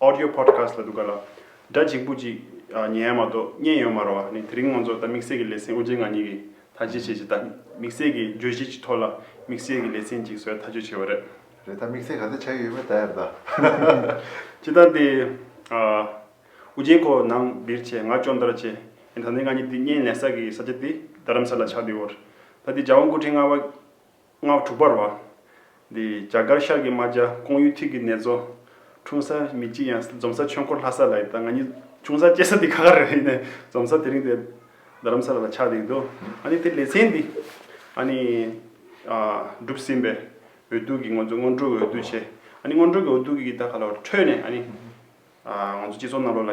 Audio Podcast ལ་འདུག་ག་ལ། སྒྲ་འཇིགས་པོ་ཅིག་ཉན་ཡ་མ་གཏོགས་བརྙན་ཡོད་མ་རོ་བ་ནི་དེ་རིང་ངོ་ཚོ་ད་དམིགས་བསལ་གྱི་ལེ་ཚན་དབུ་འབྱེད་ང་གཉིས་ཀྱིས་ཐ་ཇི་བྱེད་ཅེས་ད་དམིགས་བསལ་གྱི་བརྗོད་གཞི་གཅིག་ཐོག་ལ་དམིགས་བསལ་གྱི་ལེ་ཚན་གཅིག་བཟོས་ཐག་གཅོད་བྱས་བ་རེད། རེད་ད་དམིགས་བསལ་ག་ཚོད་ཆགས་ཀྱི་ཡོད་མེད་ད་ཡར་ལྟ། སྤྱི་ལྟར་དེ། དབུ་འབྱེད་ཁོ་ནང་འདིར་ཆེད་མངགས་ཅོང་བརྡར་བྱས་ཡིན་ད་ནི་ང་གཉིས་དེ་བརྙན་ལེན་ས་གི་ས་ཆ་དེ་རྡ་རམ་ས་ལ་ཆགས་འདུག་བར་ད་དེ་རྒྱ་དབང་སྐུ་ཕྲེང་ལྔ་བ། སྔགས་དྲུག་པར་བ། འདི་རྒྱ་གར་ཤར་གྱི་རྨ་བྱ་ཀོང་ཡུལ་ཐིག་གི་ནེ་ཙོ། འཁྲུངས་ས་མི་གཅིག་ཡང་འཛོམ་ས་ཆོས་འཁོར་ལྷ་ས་ལ་ཡིན་ད་ང་གཉིས་ཆུང་ས་སྐྱེས་ས་འདི་ཁ་ཁ་རེད་ཡིན་ནས་འཛོམ་ས་དེ་རིང་དེ་རྡ་རམ་ས་ལ་ལ་ཆགས་འདུག་འདུག་ཨ་ནི་དེ་ལེ་ཚན་འདི་ཨ་ནི། བསྒྲུབས་ཟིན་པའི་འོས་བསྡུ་གི་ང་ཚོ་སྔོན་འགྲོ་གི་འོས་བསྡུ་བྱས་ཨ་ནི་སྔོན་འགྲོ་གི་འོས་བསྡུ་གི་ད་ག་ལ་བ་ཁྲོད་ནས་ཨ་ནི། ང་ཚོ་སྤྱི་ཚོགས་རྣམས་ལོ་ལ་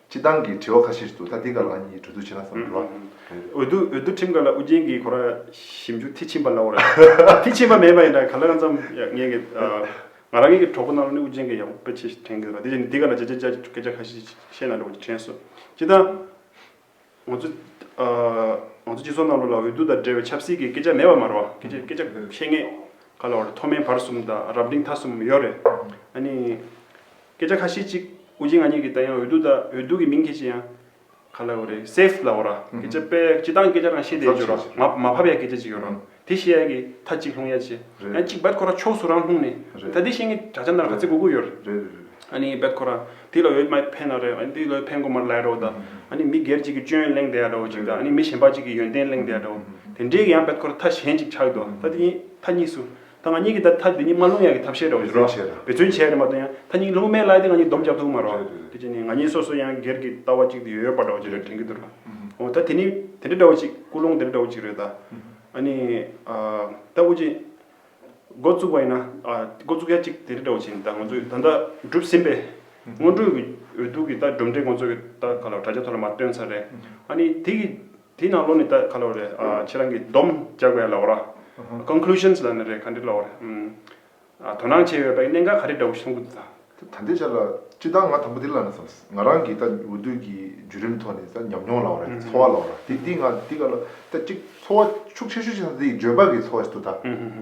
སྤྱི་བཏང་གི་དྲི་བ་ཁ་ཤས་ཤིག་འདུག་ད་འདི་ག་ལ་གཉིས་གྲོས་བསྡུར་བྱེད་ན་བསམ་འགྲོ་བ་འོས་བསྡུ་འོས་བསྡུ་ཁྲིམས་ཁང་ལ་ཨུ་རྒྱན་གྱིས་གོ་ར་ཞིབ་འཇུག་མཐིལ་ཕྱིན་པ་ལ་འོ་ར་མཐིལ་ཕྱིན་པ་མེད་པ་ཡིན་ད་ག་ལེ་རང་ཙམ་ངེད་ཀྱི་ང་རང་ངེད་ཀྱི་གྲོགས་པོ་རྣམས་ལ་ནི་ཨུ་རྒྱན་གྱིས་ཡག་པོ་དཔེ་ཆས་ཤིག་དྲན་གྱི་འདུག་ད་དེ་བཞིན་དུ་འདི་ག་ལ་བྱས་རྗེས་སྐད་ཆ་ཁ་ཤས་ཤིག་བཤད་ན་འགྲོ་བ་ཞིག་དྲན་སོང་སྤྱི་བཏང། ང་ཚོ་སྤྱི་ཚོགས་ནང་ལོགས་ལ་འོས་བསྡུ་དང་འབྲེལ་བའི་ཆབ་སྲིད་ཀྱི་སྐད་ཆ་མེད་པ་མ་རོ། སྐད་ཆ་ཤེས་ངེས་ག་ལ་བ་རེད་མཐོ་དམན་བར་གསུམ་དང་རབ་འབྲིང་ཐ་གསུམ་ཡོད་རེད། ཨ་ནི། སྐད་ཆ་ཁ་ཤས་ཅིག་དབུ་འབྱེད་ང་གཉིས་ཀྱིས་ད་ཡང་འོས་བསྡུ་དང་འོས་བསྡུ་ཀྱི་མིང་ཁྱེར་ཅི་ཡང་ག་ལ་བ་རེད safe ལ་བ་ར། སྐད་ཆ་དཔེ་སྤྱི་བཏང་སྐད་ཆ་རང་ཤེས་བསྡད་རྒྱུ་ར། མ་ཕབ་ཡ་སྐད་ཆ་ཅིག་ཡོད་ར། དེ་བཞི་ཡ་གི་ཐ་གཅིག་ལྷུང་ཡ་གཅིག། ཡང་གཅིག་བད་ཁོ་ར་ཕྱོགས་སུ་རང་ལྷུང་ནི། ད་དེ་བཞིན་གི་དྲ་ཆ་འདར་ག་ཚེ་གུ་གུ་ཡོར། ཨ་ནི་བད་ཁོ་ར། དེ་ལ་འོད་མའི་ཕན་ན་རེ། ཨ་ནི་དེ་ལ་འོད་ཕན་གོ་མར་ལའི་རོ་ད། ཨ་ནི་མི་སྒེར་གཅིག་གི་སྤྱོད་ཡོན་གླེང་བསྡད་ཡ་འདྲའོ་གཅིག་ད་ཨ་ནི་མི་གཞན་པ་གཅིག་གི་ཡོན་ཏན་གླེང་བསྡད་ཡ་འདྲའོ། དེ་འདྲའི་གི་ཡང་བད་ཁོ་ར་ཐ་གཞན་གཅིག་ཆགས་ཡོད་དོ། ད་དེ་གཉིས་ཐ་གཉིས་སུ། ད་ང་གཉིས་གི་ད་ཐ་དེ་གཉིས་མ་ལྷུང་ཡ་གི་ཐ་བཤད་འདྲའོ་ཞེ་རོ། བེད་བརྩོན་བྱས་ཡ་རེ་མ་ཏོ་ཡང་ཐ་གཉིས་ལྷུང་མའི་ལའི་དེ་ང་གཉིས་སྡོམ་རྒྱག་ཐུག་གི་མ་རོ། དེ་བྱས་ནི་ང་གཉིས་སོ་སོ་ཡང་སྒེར་གི་ལྟ་བ་གཅིག་དེ་ཡོད་ཡོད་པ་འདྲའོ་ཅེ་རེ་དྲན་གི་འདུག་ར། འོ་ད་དེ་ནི་དེ་འདྲ་འདྲ་བོ་གཅིག་སྐུལ་སློང་དེ་འདྲ་འདྲ་བོ་གཅིག་རེད་ད། ཨ་ནི། ད་དབུ་འབྱེད་འགོ་བཙུགས་པ་ཡིན་ན་འགོ་བཙུགས་ཡ་གཅིག་དེ་འདྲ་འདྲ་བོ་བྱས་ནས་ད་ང་ཚོས་ད་ལྟ་བསྒྲུབས་ཟིན་པའི་སྔོན་འགྲོའི་གི་འོས་བསྡུ་གི་ད་གྲུབ་འབྲས་ཁོང་ཚོ་གི་ད་ག་ལ་བ་དྲ་རྒྱ་ཐོག་ལ་མ་བཏོན་ཚར་རེད། ཨ་ནི་དེ་གི་དེ་ནང་ལོགས་ནས་ད་ག་ལ་བ་རེད་ཁྱེད་རང་གི་བསྡོམས་བརྒྱག་པའི་ལ་བ་ར། Conclusions། ལ་ནི་རེད་ག་འདྲི་ལ་བ་རེད། དོ་སྣང་བྱེད་འོས་པའི་གནད་འགག་ག་རེ་འདྲ་བོ་ཞིག་མཐོང་གི་འདུག་དང། ད་ལྟའི་ཆར་ལ་སྤྱིར་བཏང་ང་དང་པོ་དེ་ལ་ནས་སམ། ང་རང་གི་ད་འོས་བསྡུ་གི་བརྒྱུད་རིམ་ཐོག་ནས་ད་ཉམས་མྱོང་ལ་བར་འཚོ་བ་ལ་བར་དེ་དེ་ང་དེ་ག་ལ་ད་གཅིག་འཚོ་བ་ཤུགས་ཆེ་ཤོས་ཤིག་ད་འདི་འཇོན་པ་གི་འཚོ་བ་ཞིག་ཏུ་ད་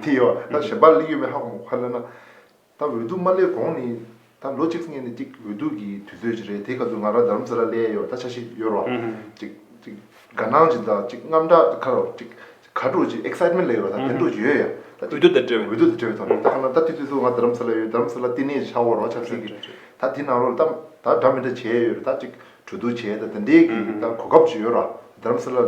དེ་ཡོད་པ་ད་གཞན་པ་ལ་གླེང་ཡོད་པའི་ཧ་གོ་མ་གོ་ཧ་ལེ་ན། ད་འོས་བསྡུ་མ་སླེབས་གོང་ནས་ད་ལོ་གཅིག་ངེས་ནས་གཅིག་འོས་བསྡུ་གི་དུས་ཚོད་ཅིག་རེད་དེ་སྐབས་སུ་ང་རང་རྡ་རམ་ས་ལར་སླེ་ཡས་ཡོད་ད་ཆ་ཤི་ཡོད་རོ་གཅིག་གཅིག་དགའ་སྣང་ཅིག་དང་གཅིག་རྔམ་སྐྲག་ཁ་རོ་གཅིག་ག་དྲུག་ཅིག excitement ལེ་ཡོད་རོ་ད་དེ་འདྲོག་ཅིག་ཡོད་ཡ་ད་འོས་བསྡུ་ད་འབྲེལ་འོས་བསྡུ་ད་འབྲེལ་བའི་ཐོག་ནས་ད་ཁ་ན་ད་དུས་ཚོད་སུ་ང་རྡ་རམ་ས་ལ་ཡོད་རྡ་རམ་ས་ལ་བསྟི་གནས་ཆགས་འོང་རོགས་ཆགས་སྲིད་གི་ད་དེ་ནང་རོགས་ད་ད་འདྲ་མི་འདྲ་བྱས་ཡོད་རེད་ད་གཅིག་གྲོས་བསྡུར་བྱས་ད་དེ་འདྲའི་གི་ད་གོ་སྐབས་ཅིག་ཡོད་ར་རྡ་རམ་ས་ལར་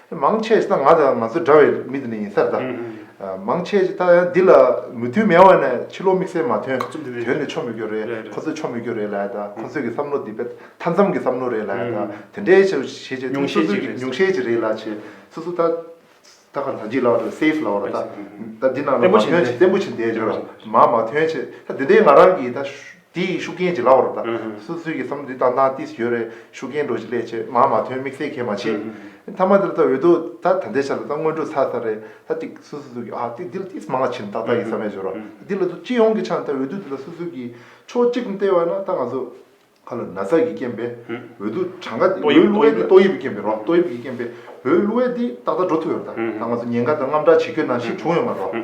མང་ཆེ་ས་ང་དང་ང་ཚོ་འདྲ་བའི་མི་དེ་ནས་ཡིན་ས་རེད་ད། མང་ཆེ་ས་འདི་ལ་མོས་མཐུན་མེད་བ་ནས་ཕྱི་ལོག་དམིགས་བསལ་མ་ཐོན་དོན་ནས་ཆོ་མི་གྱོ་རེད་ཁོ་ཚོ་ཆོ་མི་གྱོ་རེད་ལ་ད་ཁོ་ཚོ་གི་བསམ་བློ་འདི་བས་ཐ་མཚམས་ཀྱི་བསམ་བློ་རེད་ལ་ད་དེ་འདྲའི་ཆོ་བྱེད་ཆེ་མྱོང་ཤས་ཅིག་རེད་མྱོང་ཤས་ཅིག་རེད་ལ་ཆེ་སོ་སོ་ད་ད་ག་ལ་འཇིག་ལ་བ་སེ་ལ་བ་རེད་ད་ད་འདི་ན་ལ་མ་ཐོན་ཆེ་བརྟན་པོ་ཆེ་འདས་འགྲོ་ར་མ་མ་ཐོན་ཆེ་ད་འདི་འདྲའི་ང་རང་གི་ད། དེ་ཡི་ཤུགས་རྐྱེན་གྱིས་ལ་བ་རུ་བཏགས། སུ་སུའི་གི་སམ་དུས་དང་ནང་ཏིས་ཡོད་རེད་ཤུགས་རྐྱེན་འགྲོ་གཞི་ལས་ཆེ་མང་མ་ཐོན་དམིགས་བསལ་གལ་མ་ཆེ། མཐའ་མ་དེ་ལ་ད་འོད་དུ་ད་ད་ལྟའི་ཆ་ལ་ད་སྔོན་འགྲོ་ཚར་ཚར་རེད་ད་ཏིག་སུ་སུ་སུ་གི་ཨ་ཏིག་དེ་ལ་ཏིས་མང་ལ་ཆེ་ནི་ཏག་ཏག་ཡིན་ས་མེད་བྱོས་རོགས་དེ་ལ་དུ་སྤྱི་ཡོངས་ཀྱི་ཆ་ནི་ད་འོད་དུ་དེ་ལ་སུ་སུ་གི་ཕྱོགས་གཅིག་ནི་ལྟས་བ་ན་ད་ང་ཚོ་ག་ལ་ན་ཚ་གི་རྐྱེན་པས་འོད་དུ་གྲངས་ཀ་འོད་གླུ་བའི་དེ་ཏོག་དབྱིབས་ཀྱི་རྐྱེན་པས་རོགས་ཏོག་དབྱིབས་ཀྱི་རྐྱེན་པས་འོད་གླུ་བའི་དེ་ཏག་ཏག་འགྲོ་ཐུབ་ཡོད་རེད་ད་ད་ང་ཚོ་ཉེན་ཁ་ད་རྔམ་དྲག་བྱེད་ཁྱོད་ན་ཞིག་བྱུང་ཡོད་མ་རོགས།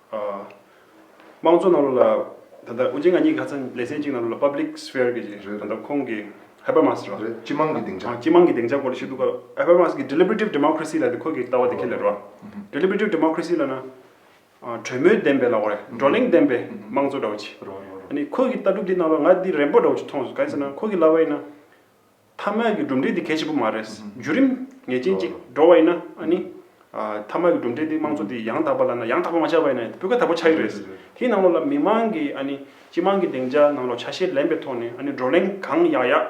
དམངས་གཙོ་ནང་ལོགས་ལ་ད་ལྟ་དབུ་ཅན་ང་གཉིས་ཁ་ཚ་ལེ་ཚན་གཅིག་ནང་ལོགས་ལ Public Sphere གྱི་རེད་ད་ལྟ་ཁོང་གི Habermas རེད་བ། སྤྱི་དམངས་ཀྱི་སྡིངས་ཆ། སྤྱི་དམངས་ཀྱི་སྡིངས་ཆ་སྐོར་ལ་ཞིག་འདུག་ག Habermas གྱི Deliberative Democracy ལ་དེ་ཁོ་གི་ལྟ་བ་དེ་ཁས་ལེན་རེད་བ། Deliberative Democracy ལ་ན་གྲོས་མོལ་ལྡན་པའི་ལ་བ་རེད་བགྲོ་གླེང་ལྡན་པའི་དམངས་གཙོ་འདྲ་བོ་ཆེ། ཨ་ནི་ཁོ་གི་ལྟ་གྲུབ་དེ་ནང་ལོགས་ལ་ང་དེ་རན་པོ་འདྲ་བོ་ཆེ་མཐོང་སོང་ག་དུས་ན་ཁོ་གི་ལ་བ་ཡིན་ན་ཐ་མལ་གྱི་གྲུབ་འབྲས་དེ་གལ་ཆེན་པོ་མ་རེད། བརྒྱུད་རིམ་ངེས་ཅན་ཅིག་འགྲོ་བ་ཡིན་ན་ནི། ཐ་མལ་གྱི་གྲུབ་འབྲས་དེ་དམངས་གཙོ་དེ་ཡང་དག་པ་ལ་ཡང་དག་པ་མ་ཆགས་པ་ཡིན་ན་སྤུས་ཀ་དག་པོ་ཆགས་ཀྱི་རེད། དེའི་ནང་ལོགས་ལ་མི་མང་གི་སྤྱི་དམངས་ཀྱི་སྡིངས་ཆ་ནང་ལོགས་ཆ་ཤས་ལེན་པའི་ཐོག་ནས་བགྲོ་གླེང་གང་ཡག་ཡག་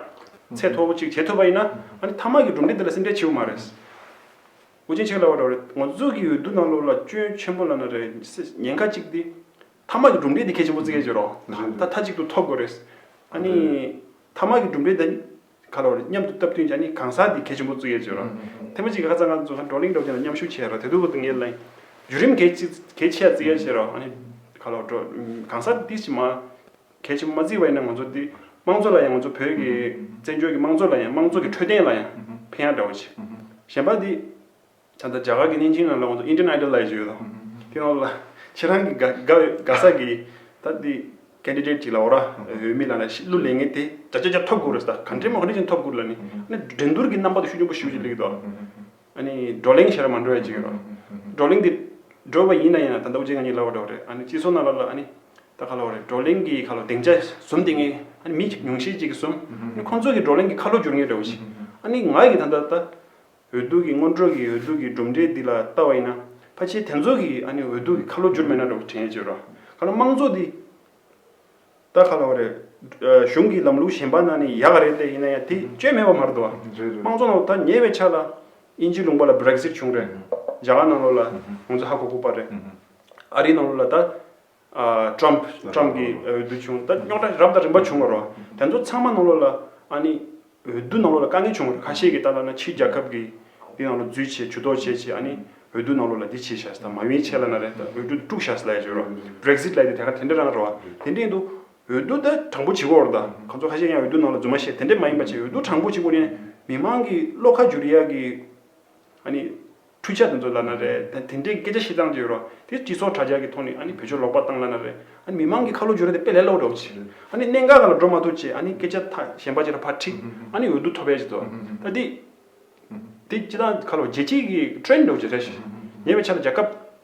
ཚད་མཐོ་པོ་ཅིག་བྱེད་ཐུབ་པ་ཡིན་ན། ཐ་མལ་གྱི་གྲུབ་འབྲས་དེ་ལ་སེམས་ཁྲལ་ཆེ་པོ་མ་རེད། འུ་ཅན་ཆེ་གེ་ལ་བ་འདྲ་བ་རེད། ངོ་ཚུལ་གྱི་འོས་བསྡུ་ནང་ལོགས་ལ་སྐྱོན་ཆེན་པོ་ལ་ན་རེ། ཉེན་ཁ་གཅིག་དེ། ཐ་མག་གི་གྲུབ་འབྲས་དེ་གལ་ཆེན་པོ་བརྩི་གལ་ཆེ་རོ། ད་མཐའ་གཅིག་ཏུ་ཐོབ་དགོས་རེད། ཨཱ་ནི། ཐ་མག་གི་གྲུབ་འབྲས་དང། ག་ལ་བ་རེད་མཉམ་དུ་བཏབ་དོན་གྱི་ཨཱ་ནི་གང་ཟག་དེ་གལ་ཆེན་པོ་བརྩི་གལ་ཆེ་རོ། ཐེངས་པ་གཅིག་གི་ཧ་ཚང་ཁ་ཚང་བགྲོ་གླེང་གྲོགས་ཅན་ལ་མཉམ་ཞུགས་བྱས་རོ་དེ་དུས་བུ་དང་ངའི་བརླན། བརྒྱུད་རིམ་གལ་ཆེ་གལ་ཆེ་ཡ་བརྩི་གལ་ཆེ་རོ། ཨཱ་ནི། ག་ལ་བ་བགྲོ། གང་ཟག་དེ་དེ་བཞིན་མ། གལ་ཆེན་པོ་མ་བརྩི་བ་ཡིན་ན་ང་ཚོ་དེ། དམངས་གཙོ་ལ་ཡང་ང་ཚོ་བོད་ཀྱི། བཙན་བྱོལ་གྱི་དམངས་གཙོ་ལ་ཡང་དམངས་གཙོ་གི་འཕྲོད་བསྟེན་ལ་ཡང། ཕན་ཡག་འདྲ་བོ་བྱེད། གཞན་པ་དེ། ད་ལྟ་རྒྱ་གར་གྱི་བརྙན་འཕྲིན་ལ་ལའང་དུ Indian Idol ལ་ཡི་བྱོས་དང། དེ་ནང་ལ་ཁྱེད་རང་གི་དགའ་ས་གི་ད་འདི Candidate ཅིག་ལ་འོ་ར་འོས་མི་ལ་ནས་གཞི་གླུ་ལེན་ངེས་དེ་ཇག་ཇག་ཇག་ཐོབ་དགོས་རེད་ད་གང་འདྲའི་མ་གནས་ཅིག་ཐོབ་དགོས་ལ་ནི་ནི་འགྲན་བསྡུར་གྱི་རྣམ་པ་དུ་ཤུགས་ཆེན་པོ་ཞུ་ཅིག་ལེགས་དོ། ཨ་ནི་བགྲོ་གླེང་བྱས་ར་མ་འགྲོ་ཡ་ཅིག་ཡོད་རོ། བགྲོ་གླེང་དེ་འགྲོ་བ་ཡིན་ན་ཡིན་ན་ད་ནྡོ་རྗེ་ང་གཉིས་ལ་བ་འགྲོ་རེད་ཨ་ནི་སྤྱི་ཚོགས་ན་ལ་ལ་ཨ་ནི་ད་ག་ལ་བ་རེད་བགྲོ་གླེང་གི་ག་ལ་སྡིངས་ཆ་ཟུམ་དེ་ངས་ཨ་ནི་མི་ཉུང་ཤས་ཅིག་གིས་ཟུམ་ཨ་ནི་ཁོང་ཚོ་གི་བགྲོ་གླེང་གི་ཁ་ལོ་བསྒྱུར་ངེས་རེད་བ་ཞིག་ཨ་ནི་ང་ཡི་ད་ནྡ་ད་འོས་ལྡུག་གི་སྔོན་འགྲོ་གི་འོས་ལྡུག་གི་གྲུབ་འབྲས་འདི་ལ་བལྟ་བ་ཡིན་ན། ཕ་ཆེ་དེ་ཚོ་གིས་ཨ་ནི་འོས་ལྡུག་གི་ཁ་ལོ་བསྒྱུར་མེད་ན་འགྲོ་གི་དྲན་ཡོད་ཅེས་རོ། ཁ་ལོ་དམངས་གཙོ་འདི་ལྟར་ཁ་ལོ་བ་རེད། གཞུང་གི་ལམ་ལུགས་གཞན་པ་ན་ནི་ཡག་རེད་ལྟས་ཡིན་ན་ཡང་དེ་སྤྱོད་མེད་པ་མ་རེད་དོ། དམངས་གཙོ་ནང་དུ་ད་ཉེ་བའི་ཆ་ལ་དབྱིན་ཇིའི་ལུང་པ་ལ Brexit བྱུང་རེད། རྒྱ་གར་ནང་ལོགས་ལ་ང་ཚོ་ཧ་གོ་གོ་པ་རེད། ཨ་རིའི་ནང་ལོགས་ལ་ད། Trump Trump གི་འོས་བསྡུ་བྱུང་ད་རྙོག་དྲ་རབ་དང་རིམ་པ་བྱུང་བ་རོ། དེ་ཚོ་ཚང་མ་ནང་ལོགས་ལ་ཨཱ་ནི་འོས་བསྡུ་ནང་ལོགས་ལ་དཀའ་ངལ་བྱུང་བ་རེད་ཁ་ཤས་ཀྱི་ལྟ་ལ་ན་ཕྱི་རྒྱལ་ཁབ་ཀྱི་འདི་ནང་ལོགས་རྫུས་བྱས་ཇུས་གཏོགས་བྱས་བྱས་ཨཱ་ནི་འོས་བསྡུ་ནང་ལོགས་ལ་འདི་བྱས་བྱས་ད་མ་ཡིན་ཆད་ལ་ན་རེ་ད་འོས་བསྡུ་དཀྲུག་བྱས་ལ་ཡེ་ཆོད་རོ། Brexit ལ་ཡི་དེ་ག་དེ་འདྲ་རང་རེད་བ། དེ་འདྲས་འདུག་འོས་བསྡུ་ད་དྲང་པོ་བྱེད་དགོས་རེད་ད་གང་ཚོ་ཁ་ཤས་ཡང་འོས་བསྡུ་ནང་ལོགས་རྫུན་མ་བཤད་དེ་འདྲས་མ་ཡིན་པ་བྱས་འོས་བསྡུ་དྲང་པོ་བྱེད་དགོས་ནས་མི་མང་གི་བློ་ཁ་འཇུ་རེ་ཡག་གི་ཨཱ་ནི་འཕྲུལ་ཆ་དེ་ཚོ་བླ་ན་རེ། དེ་འདྲའི་སྐད་ཆ་བཤད་སྟངས་ཅིག་རོ། དེ་སྤྱི་ཚོགས་དྲྭ་རྒྱ་གི་ཐོག་ནས་ཨ་ནི་བོད་ཆོས་ལོག་པར་བཏང་བླ་ན་རེ། ཨ་ནི་མི་མང་གི་ཁ་ལོ་སྒྱུར་ར་དེ་དཔེ་ལས་ལོག་འགྲོ་ཅིག། ཨ་ནི་གནད་འགག་ག་ལ་འགྲོ་མ་ཐུབ་ཅེས་ཨ་ནི་སྐད་ཆ་ཐག་གཞན་པ་ཅིག་ལ་ཕར་འཁྲིགས། ཨ་ནི་འོས་བསྡུ་ཐོབ་པའི་ཅིག་ཏུ། ད་འདི། འདི་སྤྱི་དང་ཁ་ལོ་རྗེས་གཅིག་གི Trend འགྲོ་ཅིག་རེད། ཉེ་བའི་ཆར་རྒྱ་ཁབ།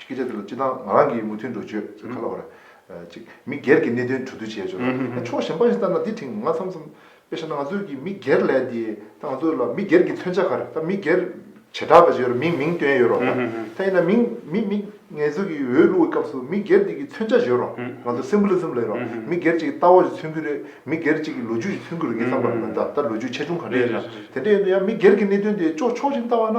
སྐད་ཆ་དེ་ལ་སྤྱི་བཏང་ང་རང་གིས་མུ་མཐུད་འགྲོ་བརྗོད་ཚོད་ཁ་ལ་བར། གཅིག། མི་སྒེར་གྱི་གནད་དོན་གྲོས་བསྡུར་བྱས་ཆོག་ལ། ཕྱོགས་གཞན་པ་ཞིག་ལྟར་ན་དེ་དེང་ང་འཚམས་འཚམས། དཔེ་ཆ་ན་ང་ཚོས་ཀྱི་མི་སྒེར་ལས་དེ་ད་ང་ཚོ་ལ་མི་སྒེར་གྱི་མཚོན་ཆ་ག་རེ་ད་མི་སྒེར། བྱེ་བྲག་པ་ཞིག་ཡོད་རེད་མིང་མིང་བཏོན་ཡོད་རོགས་ད་དེ་ཡིན་ན་མིང་མི་མི། ངལ་རྩོལ་གྱི་འོས་བླུགས་པའི་སྐབས་སུ་མི་སྒེར་དེ་གྱི་མཚོན་ཆ་བཞོན་རོགས་ང་ཚོ Symbolism ལས་རོགས་མི་སྒེར་ཅིག་གི་ལྟ་བ་ཞིག་མཚོན་གྱི་རེད་མི་སྒེར་ཅིག་གི་ལོ་རྒྱུས་ཞིག་མཚོན་གྱི་རེད་ངས་བསམ་པར་ད་ལོ་རྒྱུས་ཆེ་ཆུང་ག་རེ་ཡིན་ན་དེ་འདྲ་ཡིན་དུས་ཡང་མི་སྒེར་གྱི་གནད་དོན་དེ་ཕྱོགས་ཕྱོགས་གཞན་ལྟ་བ་ན།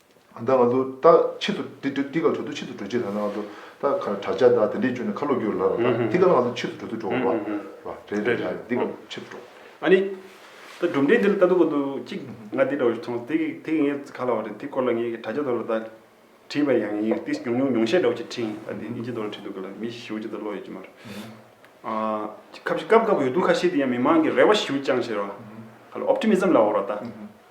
ད་ང་ཚོ་ད་ཕྱི་དུ་དེ་དེ་ག་གྲོ་དུ་ཕྱི་དུ་གྲོ་ཆེད་ད་ང་ཚོ་ད་གར་དྲག་ཆ་ད་དེ་འདྲས་བྱུང་ནས་ཁ་ལོ་བསྒྱུར་ལབ་ལ་དེ་ག་ང་ཚོ་ཕྱི་དུ་གྲོ་དུ་འགྲོ་བ་བ་རེད་རེད་ཡ་དེ་ག་ཕྱི་དུ་འགྲོ། ཨ་ནི། ད་སྒྲུབ་འབྲས་འདི་ལ་ལྟ་འདོད་པ་འདུག་གཅིག་ང་འདི་འདྲ་བ་ཞིག་མཐོང་སོང་དེ་དེ་ངའི་ག་ལ་བ་རེད་དེ་སྐོར་ལ་ངས་དྲག་ཆ་དོར་ལ་ད་བྲིས་པ་ཡང་ཡིན་དེ་ཉུང་ཉུང་ཉུང་ཤས་འདྲ་བོ་ཅིག་ཕྲིན་ད་དེ་ཨིན་ཇི་དོར་ལ་བྲིས་འདུག་ག་ལ་མི་ཞིའུ་ཅི་ད་ལོག་ཡོད་ཀྱི་མ་རེད། ཨ། ཁ་བཞི་སྐབས་སྐབས་ཡོད་འདུག་ཁ་ཤས་དེ་ཡང་མི་མང་གི་རེ་བ་ཞིའུ་ཅང་ཞེས་ར་བ། ག་ལ Optimism ལ་བོར་བ་ད།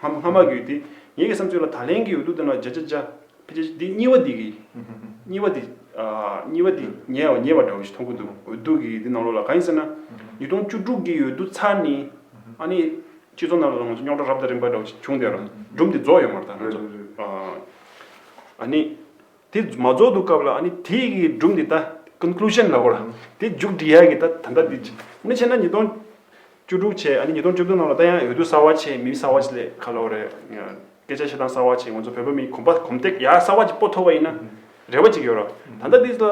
ཧ་མ་མ་གུས་ཏེ། ངེད་ཀྱི་བསམ་ཚུལ་ལ་ད་ལན་གྱི་འོས་བསྡུ་དེ་ན་བྱ་བྱ་བྱ། འདི་གཉིས་བ་འདི་གི། གཉིས་བ་འདི། གཉིས་བ་འདི་ཉེ་བ་ཉེ་བ་འདྲ་བོ་ཞིག་མཐོང་གི་འདུག་འོས་བསྡུ་གི་འདི་ནང་ལོགས་ལ་གང་ཡིན་ཟེར་ན། ཉིས་སྟོང་བཅུ་དྲུག་གི་འོས་བསྡུ་ཚར་ནས། ཨ་ནི། སྤྱི་ཚོགས་ནང་ལ་ང་ཚོ་རྙོག་དྲ་རབ་དང་རིམ་པ་འདྲ་བོ་ཞིག་བྱུང་སྟེ། སྒྲུབ་འདི་རྫོགས་ཡོད་མ་རེད་ད། ཨ་ནི། དེ་མ་རྫོགས་འདུག་སྐབས་ལ་ཨ་ནི་དེ་ཡི་སྒྲུབ་འདི་ལྟ Conclusion ལ་གོ། དེ་མཇུག་འགྲིལ་ཡ་གི་ད་ད་ལྟ་འདི་ཅིག་ཕྱིན་ན་ཉིས་སྟོང་བཅུ་དྲུག་ཆའི་ཨ་ནི་ཉིས་སྟོང་བཅུ་བདུན་ནང་ལ་ད་ཡང་འོས་བསྡུ་གསར་བ་ཆེ་མིན་གསར་བ་ཆེ་ལས་ཁ་ལོ་རེད། སྐད་ཆ་བཤད་སྟངས་གསར་བ་ཆེ་ང་ཚོ་བོད་པ་མིའི་གོམ་པ་གོམ་སྟེགས་ཡག་གསར་བ་ཅིག་པོ་ཐོབ་པ་ཡིན་ན་རེ་བ་ཅིག་ཡོད་རོགས། ད་ལྟ་འདི་ལ་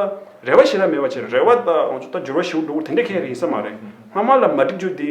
རེ་བ་ཞེ་དྲག་མེད་པ་ཆེ་རེ་བ་ད་ང་ཚོ་ད་འགྱུར་བ་ཞིག་འགྲོ་དགོས་དེ་འདྲ་ཁས་ཡིན་ས་མ་རེད་སྔ་མ་ལ་མ་འགྲིག་རྒྱུ་འདི་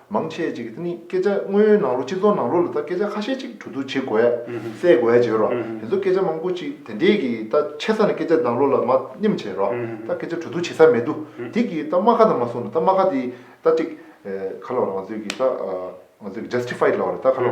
མང་ཆེ་ཅིག་གིས་དེ་ནི་སྐད་ཆ་དངོས་ཡོད་ནང་ལོགས་སྤྱིར་བཏང་ནང་ལོགས་ལ་ད་སྐད་ཆ་ཁ་ཤས་ཅིག་གྲོས་བསྡུར་བྱེད་དགོས། བསལ་དགོས་ཟེར་རོ། དེ་ཚོ་སྐད་ཆ་མང་པོ་ཅིག་དེ་འདྲས་ཀྱིས་ད་ཆེ་ས་ནས་སྐད་ཆ་ནང་ལོགས་ལ་མ་སྙེམས་བྱེད་རོགས། ད་སྐད་ཆ་གྲོས་བསྡུར་བྱེད་ས་མེད་དུ་དེ་གིས་ད་སྨྲ་ཁ་དང་མ་གསུངས་ན་ད་སྨྲ་ཁ་དེ་ད་ཅིག། ཁ་ལོ་རང་ཚོད་ཀྱིས་ད། ང་ཚོས་ཀྱིས Justified ལོགས་རེད་ད་ཁ་ལོ།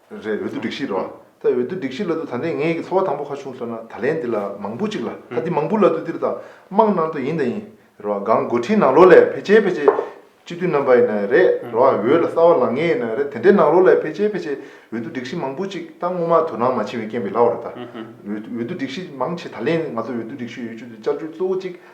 རེད་འོས་བསྡུ་སྒྲིག་གཞི་རེད་བ། ད་འོས་བསྡུ་སྒྲིག་གཞི་ལ་དུ་ད་ནས་ངའི་གི་ཚོར་བ་དང་པོ་ཁ་ཆུང་སོ་ན་ད་ལན་འདི་ལ་མང་པོ་ཅིག་ལ་ད་འདི་མང་པོ་ལ་དུ་འདིར་ད་དམངས་ནང་དུ་ཡིན་ད་ཡིན་རེད་བ་གང་འགོ་ཁྲིད་ནང་ལོགས་ལས་ཕལ་ཆེར་ཕལ་ཆེར་སྤྱི་འཐུས་རྣམ་པ་ཡིན་ན་རེད་རེད་བ་འོས་ལ་གསར་བ་ལང་ངེས་ཡིན་ན་རེད་དེ་འདྲའི་ནང་ལོགས་ལས་ཕལ་ཆེར་ཕལ་ཆེར་འོས་བསྡུ་སྒྲིག་གཞི་མང་པོ་ཅིག་ད་སྔོན་མ་དོ་སྣང་མ་བྱིན་བའི་རྐྱེན་པས་ལ་བ་རེད་ད་འོས་བསྡུ་སྒྲིག་གཞི་མང་ཆེ་ད་ལན་ང་ཚོ་འོས་བསྡུ་སྒྲིག་གཞི་ཡོད་ཆུ་དུ་བཅར་བཅུ་གཙོ་བོ་ཅིག་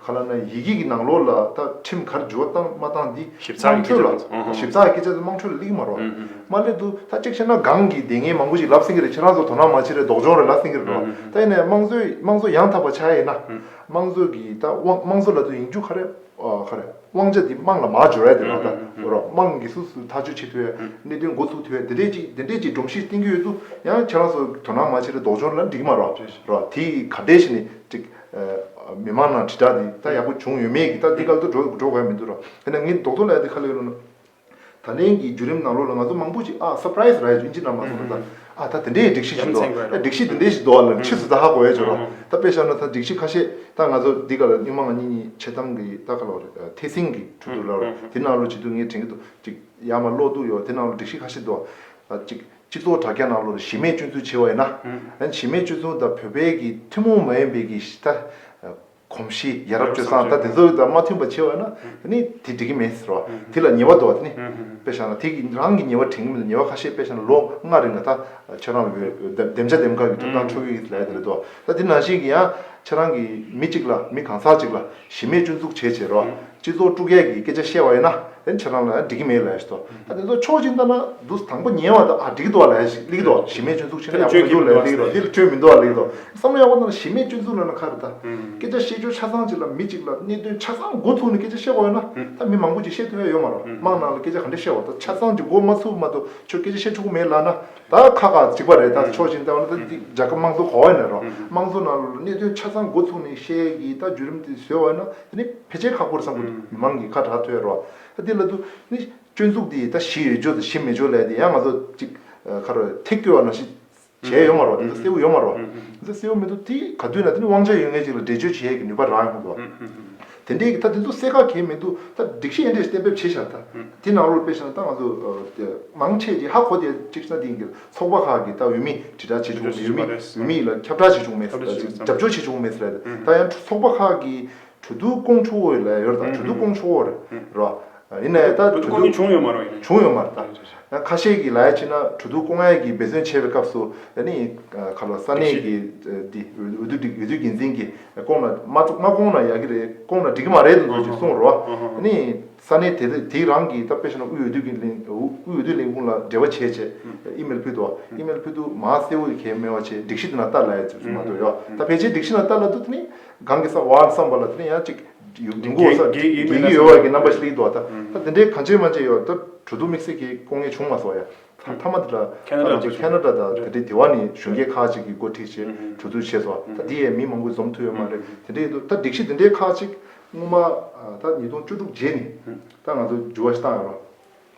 ག་ལ་ན་ཡིག་སྐད་ཀྱི་ནང་ལོགས་ལ་ད་ཁྲིམས་གར་འཇུ་བ་བཏང་མ་བཏང་འདི་ཞིབ་ཚགས་དམངས་ཀྱི་སྐད་ཆ་ཁྲོད་ལ་ཚོ་ཨ་ཞིབ་ཚགས་ཀྱི་སྐད་ཆ་ཚོ་དམངས་ཁྲོད་ལ་གླེགས་མ་རོགས་ཨ་མ་སླེབས་འདུག་ད་ཅིག་བཤད་ན་སྒང་གི་སྡེ་ངན་མང་པོ་ཞིག་ལབ་སེང་གི་རེད་ཁྱེད་རང་ཚོ་དོ་སྣང་མ་བྱེད་རེད་ལྡོག་ཆོང་རེད་ལབ་སེང་གི་རེད་རོ་ད་ཡིན་ནའི་དམངས་གཙོའི་དམངས་གཙོ་ཡང་དག་པ་བྱ་ཡིན་ན་དམངས་གཙོ་གི་ད་དབང་དམངས་གཙོ་ལ་དུ་ཡིན་རྒྱུ་ཁ་རེད་ཁ་རེད་དབང་ཆ་འདི་དམངས་ལ་མ་འབྱོར་ཡ་དེ་ལ་ད་འོ་རོ་དམངས་ཀྱི་སུ་སུ་ཐག་གཅོད་བྱེད་ཐུབ་ཡ་གནད་དོན་འགོ་ཚུགས་ཐུབ་ཡ་དེ་འདྲས་ཅིག་དེ་འདྲས་ཅིག་སྒྲོམ་གཞི་བཏིང་གི་ཡོད་དུ་ཡང་ཁྱེད་རང་ཚོ་དོ་སྣང་མ་བྱེད་རེད་ལྡོག་ཆོང་རེད་ལབ་འགྲིག་གི་མ་རོ་རོ་དེ་ག་འདྲས་ཞིག་ནི་ཅིག། མི་དམངས་ནང་དྲིལ་བསྒྲགས་འདི་ད་ཡག་པོ་བྱུང་ཡོད་མེད་ཀྱི་ད་འདི་ག་ལྟར་འགྲོ་གི་ཡ་མི་འདུག་ར་དེ་ནས་ངས་རྡོག་ཐོ་ལ་ཡ་འདི་ཁ་ལེ་ལོ། ད་ལན་གྱི་རྒྱུད་རིམ་ནང་ལོགས་ལ་ང་ཚོ་མང་པོ་ཞིག་ཨ Surprise ར་ཡོད་ཚོད་ཨིན་ཅི་ན་མ་སོང་ད་ད་ཨ་ད་དེ་འདྲའི་ཡི་སྒྲིག་གཞི་ཞིག་འདུག་ཨ་ཨ་སྒྲིག་གཞི་དེ་འདྲའི་ཞིག་འདུག་ཨ་ལ་ཕྱིས་སུ་ད་ཧ་གོ་ཡ་ཆོད་ར་ད་དཔེ་ཤར་ན་ད་སྒྲིག་གཞི་ཁ་ཤས་ད་ང་ཚོ་འདི་ག་ལ་སྨྱུག་མ་ང་གཉིས་གཉིས་ཆེ་གཏམ་གི་ད་ཁ་ལོ་ར་ཐེ་སིང་གི་ཁྲོད་དུ་ར་ར་དེ་ནང་ལོགས་ཅིག་འདུག་ངས་དྲན་གི་འདུག་ཅིག་ཡ་མ་ལོགས་འདུག་ཡོད་ད་ནང་ལོགས་སྒྲིག་གཞི་ཁ་ཤས་འདུག་ཨ་ཅིག། སྤྱི་ཚོགས་དྲ་རྒྱ་ནང་ལོ་རེར་གཞི་མེད་སྤྱོད་ཚུལ་ཆེ་བ་ཡིན་ན། གཞི་མེད་སྤྱོད་ཚུལ་དང་བོད་པའི་གི་ཐུན་མོང་མ་ཡིན་པའི་གི་གཞི་རྟ། གོམས་གཤིས་ཡ་རབས་སྤྱོད་བཟང་ད་དེ་ཚོ་དང་མ་མཐུན་པ་ཆེ་བ་ཡིན་ན་དེ་ནི་དེ་འགྲིག་གི་མིན་ཟེར་བ་དེ་ལ་ཉེས་བ་དོ་བ་དེ་ནི་དཔེ་བཞག་ན་དེ་གི་རང་གི་ཉེས་བ་དྲན་གི་མིན་ལ་ཉེས་བ་ཁ་ཤས་དཔེ་བཞག་ན་ལོ་ལྔ་རིང་ད་ཁྱོད་རང་ལོ་བདེམས་བྱ་འདེམས་དཀའ་གི་འགྲིག་སྟངས་འཕྲོ་གི་ཡིན་ལས་དེ་རེད་དོ། ད་དེ་ནང་བཞིན་གྱི་ཡང་ཁྱེད་རང་གིས་མི་གཅིག་ལ་མི་གང་ཟག་གཅིག་ལ་གཞི་མེད་སྐྱོན་འཛུགས་བྱས་བྱས་རོགས་སྤྱི་ཚོགས་དཀྲུགས་སྐད་ཀྱི་སྐད་ཆ་བཤད་བ་ཡིན་ན་ཡང་ཁྱེད་རང་ལ་ཡང་འགྲིག་གི་མེད་ལ་ཡ་ཞེས་དོགས་ད་དེ་ཚོ་ཕྱོགས་གཅིག་ལྟ་ན་འདུག་དང་པོ་ཉེས་བ་དང་ཨ་འགྲིག་གི་འདུག་ཨ་ལ་ཡ་ཞེས་གླེང་གི་འདུག་གཞི་མེད་སྐྱོན་འཛུགས་བྱས་ན་ཡག་པོ་མི་འདུག་ལ་ཡ་གླེང་གི་འདུག་དེ་ལ་སྐྱོན་མི་འདུག་ཨ་ལེ་གི་འདུག་བསམ་བློ་ཡག་པོ་ལྟ་ན་གཞི་མེད་སྐྱོན་འཛུགས་ལ་ན་ཁག་རེད་ད་སྐད་ཆ་བཤད་རྒྱུ་ཆ་ཚང་གཅིག་ལ་མི་གཅིག་ལ་གནད་དོན་ཆ་ཚང་མགོ་ཚུགས་ནས་སྐད་ཆ་བཤད་བ་ཡོད་ན་ད་མི་མང་པོ་ཅིག་བཤད་ཐུབ་ཡ་ཡོད་མ་རོགས་དམག་ནང་ལ་སྐད་ཆ་ག་འདྲ་བཤད་བ་ད་ཆ་ཚང་གཅིག་མགོ་མ་ཚུགས་མ་གཏོགས་ཁྱོད་སྐད་ཆ་བཤད་ཆོག་གི་མེད་ལ་ན་ད་ཁག་ཁག་གཅིག་པ་རེད་ད་ཆོག་ཅིང་ད་འོ་ན་ད་འདི་རྒྱ་ཁབ་དམངས་གཙོ་གོ་བ་ནས་རོགས་དམངས་གཙོ་ནང་གནད་དོན་ཆ་ཚང་འགོ་ཚུགས་ནས་བཤད་ཀྱི་ད་བརྒྱུད་རིམ་དེ་བཟོས་བ་ན་དེ་ནི་ཕལ་ཆེར་ཁག་པོ་རེད་བསམ་གོ་མི་མང་གི་ཁ་གྲགས་ཐོས་རོགས་ད་འདི་ལ་དུ་ནི་སྤྱོད་འཛུགས་དེ་ད་གཞི་ཡོད་ཆོག་དང་གཞི་མེད་ཆོག་ལས་དེ་ཡང་ང་ཚོ་གཅིག་ཁ་རོ་ཐེག་སྐྱོ་བ་ནང་བཞིན་བྱས་ཡོད་མ་རོགས་དེ་ད་གསལ་བོ་ཡོད་མ་རོགས་ད་གསལ་བོ་མེད་འདུག་དེ་ག་དུས་ན་དེ་ནི་དབང་ཆ་ཡོད་ངེས་ཅིག་ལ་འགྲེལ་བརྗོད་བྱེད་ཡས་ཀྱི་ནུས་པ་རག་ཡོང་ཁུ་འདུག་བ། དེ་འདྲའི་གི་ད་དེ་ཚོ་གསལ་ཁ་གལ་མི་འདུག་ད་སྒྲིག་གཞི་ཨེ་འདྲས་གཏན་འབེབས་བྱེད་ཤག་ད་དེ་ནང་རུ་སྤེལ་ཤག་ད་ང་ཚོ་དེ་མང་ཆེས་ཀྱི་ཧ་གོ་དེ་གཅིག་ཤ་དེ་གི་ཚོགས་པ་ཁག་གི་ད་འོས་མི་དྲི་བསྒྲགས་བྱེད་བྱུང་མེད་འོས་མི་འོས་མི་ཡིག་ལ་ཁྱབ་བསྒྲགས་བྱེད་བྱུང་མེད་ད་ཅིག་རྒྱབ་སྐྱོར་བྱེད་བྱུང་མེད་རེད་ད་ཡང་ཚོགས་པ་ཁག་གི་གྲོས་བསྡུར་སྐོང་ཆོག་འོས་ལ་ཡོད་རེད་ད་གྲོས་བསྡུར་སྐོང་ཆོག་རེད་རོ་ཡིན་ནའི་ད་གྲོས་བསྡུར་བྱུང་ཡོད་མ་རོ་ཡིན་བྱུང་ཡོད་མ་རེད་ད་ཁ་ཤས་གི་ལ་ཡ་ཕྱིན་ན་གྲོས་བསྡུར་སྐོང་ཡ་གི་འབད་བརྩོན་བྱས་པའི་སྐབས་སུ་ཡ་ནི་ག་ལ་ས་གནས་གི་འོས་བསྡུ་འོས་བསྡུ་འགན་འཛིན་གི་སྐོང་ན་མ་ཚུགས་མ་སྐོང་ན་ཡག་གི་རེད་སྐོང་ན་འགྲིག་གི་མ་རེད་དུ་འདུག་ཅེས་གསུངས་རོགས། དེ་ནས་ས་གནས་དེ་དུས་དེའི་རང་གི་སྟབས་ཀྱིས་ཤི་ན་དབུས་འོས་བསྡུ་གི་དབུས་འོས་བསྡུ་ལས་ཁུངས་ལ་འབྲེལ་བ་བྱས་བྱས་ཨི་མེལ་ཕུལ་འདུག་ཨི་མེལ་ཕུལ་འདུག་མ་གསལ་བོ་ཡི་གེ་མེད་བ་བྱས་སྒྲིག་གཞི་དེ་ན་བསྟར་ལ་ཡ་ཅེས་གསུངས་མ་འདུག་ཡོ་ད་ཕལ་ཆེར་སྒྲིག་གཞི་ན་བསྟར་ལ་འདུག་དེ་ནས་གང་གི་བསམ་བ་བསམ་པ་ལ་དེ་ནས་ཡང་ཅིག་ཡུ་མགོ་ས་དགེ་བསྐོས་ཡོད་བར་གྱི་རྣམ་པ་ཞིག་ལ་ཡིན་འདུག་ད་དེ་འདྲའི་གང་བྱས་མ་བྱས་ཡོ་ད་གྲོ་བསྡུ་དམིགས་བསལ་གྱིས་སྐོང་ངེས་བྱུང་མ་སོང་ཡ། ཐེངས་མཐའ་མ་དེ་དག་ཁ་ན་ར་ཅིག་བྱུང། ཁ་ན་ར་དང་དེ་འདྲའི་དེ་བ་ནི་གཞོན་སྐྱེས་ཁག་ཅིག་གིས་འགོ་ཁྲིད་བྱེད་གྲུ་བཙུགས་བྱས་སོ། ད་འདི་ཡས་མི་མང་པོས་འཛོམས་ཐུབ་ཡོད་མ་རེད། དེ་འདྲའི་ཡོད་དོ། ད་སྒྲིག་གཞི་འདི་འདྲའི་ཁག་ཅིག་སྔོན་མ། ད་ཉིས་སྟོང་བཅུ་དྲུག་རྗེས་ནས། ད་ང་ཚོ་འགྱུར་བ་ཞིག་བཏང་ཡོད་རོ།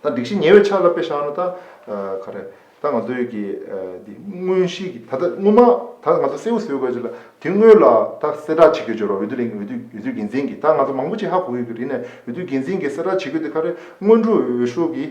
ད་སྒྲིག་གཞི་ཉེ་བའི་ཆ་ལ་དཔེ་བཞག་ན་ད། ག་རེ། ད་ང་ཚོའི་གི། འདི་དངོས་གཞི་གི་ད་ལྟ་སྔོན་མ། ད་ང་ཚོ་གསལ་བོ་བཟོས་དགོས་ཆེད་ལ། དེ་སྔོན་ལ་ད་གསལ་བསྒྲགས་བྱེད་དགོས་ཆེད་རོ་འོས་བསྡུ་ལེན་འོས་བསྡུ་འགན་འཛིན་གི་ད་ང་ཚོ་མང་པོ་ཅིག་ཧ་གོ་ཡོད་གི་རིག་ནས་འོས་བསྡུ་འགན་འཛིན་གི་གསལ་བསྒྲགས་བྱེད་དགོས་དེ་ག་རེ་སྔོན་འགྲོ་འོས་ཤོག་གི།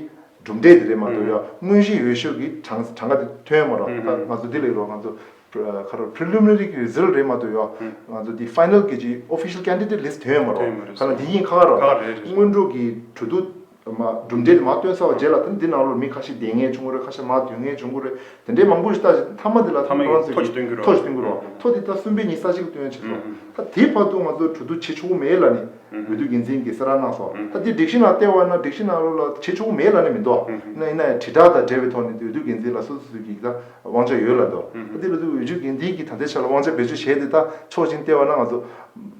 གྲུབ་འབྲས་དེ་རེད་མ་གཏོགས་ཡང་དངོས་གཞི་ཡོད་ཤོས་ཀྱི་གྲངས་གྲངས་ཀ་དེ་ཐོན་ཡོད་མ་རོགས་ད་ང་ཚོ་དེ་ལས་རོགས་ང་ཚོ་ཁ་རོགས Preliminary གྱི Result རེད་མ་གཏོགས་ཡང་ང་ཚོ་དེ Final གྱི་ཅི Official Candidate List ཐོན་ཡོད་མ་རོགས་ཁ་ན་དེ་གཉིས་ཁག་ཁག་རོགས་སྔོན་འགྲོ་གི་གྲོས་བསྡུར་མ་གྲུབ་འབྲས་དེ་མ་བཏོན་ས་བ་རྗེས་ལ་དེ་འདི་ནང་ལོར་མི་ཁ་ཤས་འདེད་ངེས་བྱུང་གི་རེད་ཁ་ཤས་མ་འདོན་ངེས་བྱུང་གི་རེད་དེ་འདྲས་མང་པོ་ཞིག་ལྟ་བཞིན་མཐའ་མ་དེ་ལ་མཐའ་མའི་ཐོ་ཞིག་བཏོན་གྱི་རོགས་ཐོ་ཞིག་བཏོན་གྱི་རོགས་ཐོ་དེ་ད་གསུམ་པའི་ཉིན་ས་གཅིག་ལ་བཏོན་ཡོད་ཆགས་སོ་ད་དེའི་བར་དུ་ང་ཚོ་གྲོས་བསྡུར་བྱེད་ཆོག་གི་མེད་ལ་ནི། བོད་དུ་རྒྱུན་འཛིན་གྱི་སེ་ར་གནང་སོ། ད་ལྟའི་སྒྲིག་གཞི་ནང་ལྟེ་བ་ན་སྒྲིག་གཞི་ནང་རུ་ལ་བྱེད་ཆོག་གི་མེད་ལ་ནི་མི་འདུག་ཨ། ཡིན་ན་ཡང་དྲིལ་བསྒྲགས་དང་འབྲེལ་བའི་ཐོག་ནས་འོས་བསྡུ་འགན་འཛིན་ལ་སོ་སོ་ཡིག་ལ་དབང་ཆ་ཡོད་ལ་འདུག་ཨ། དེ་ལ་དུ་འོས་ཆོས་འགན་འཛིན་གྱིས་ད་ལྟའི་ཆ་ལ་དབང་ཆ་བེད་སྤྱོད་བྱས་ཏེ་ད་ཆོག་ཅིང་ལྟེ་བ་ན་ང་ཚོ་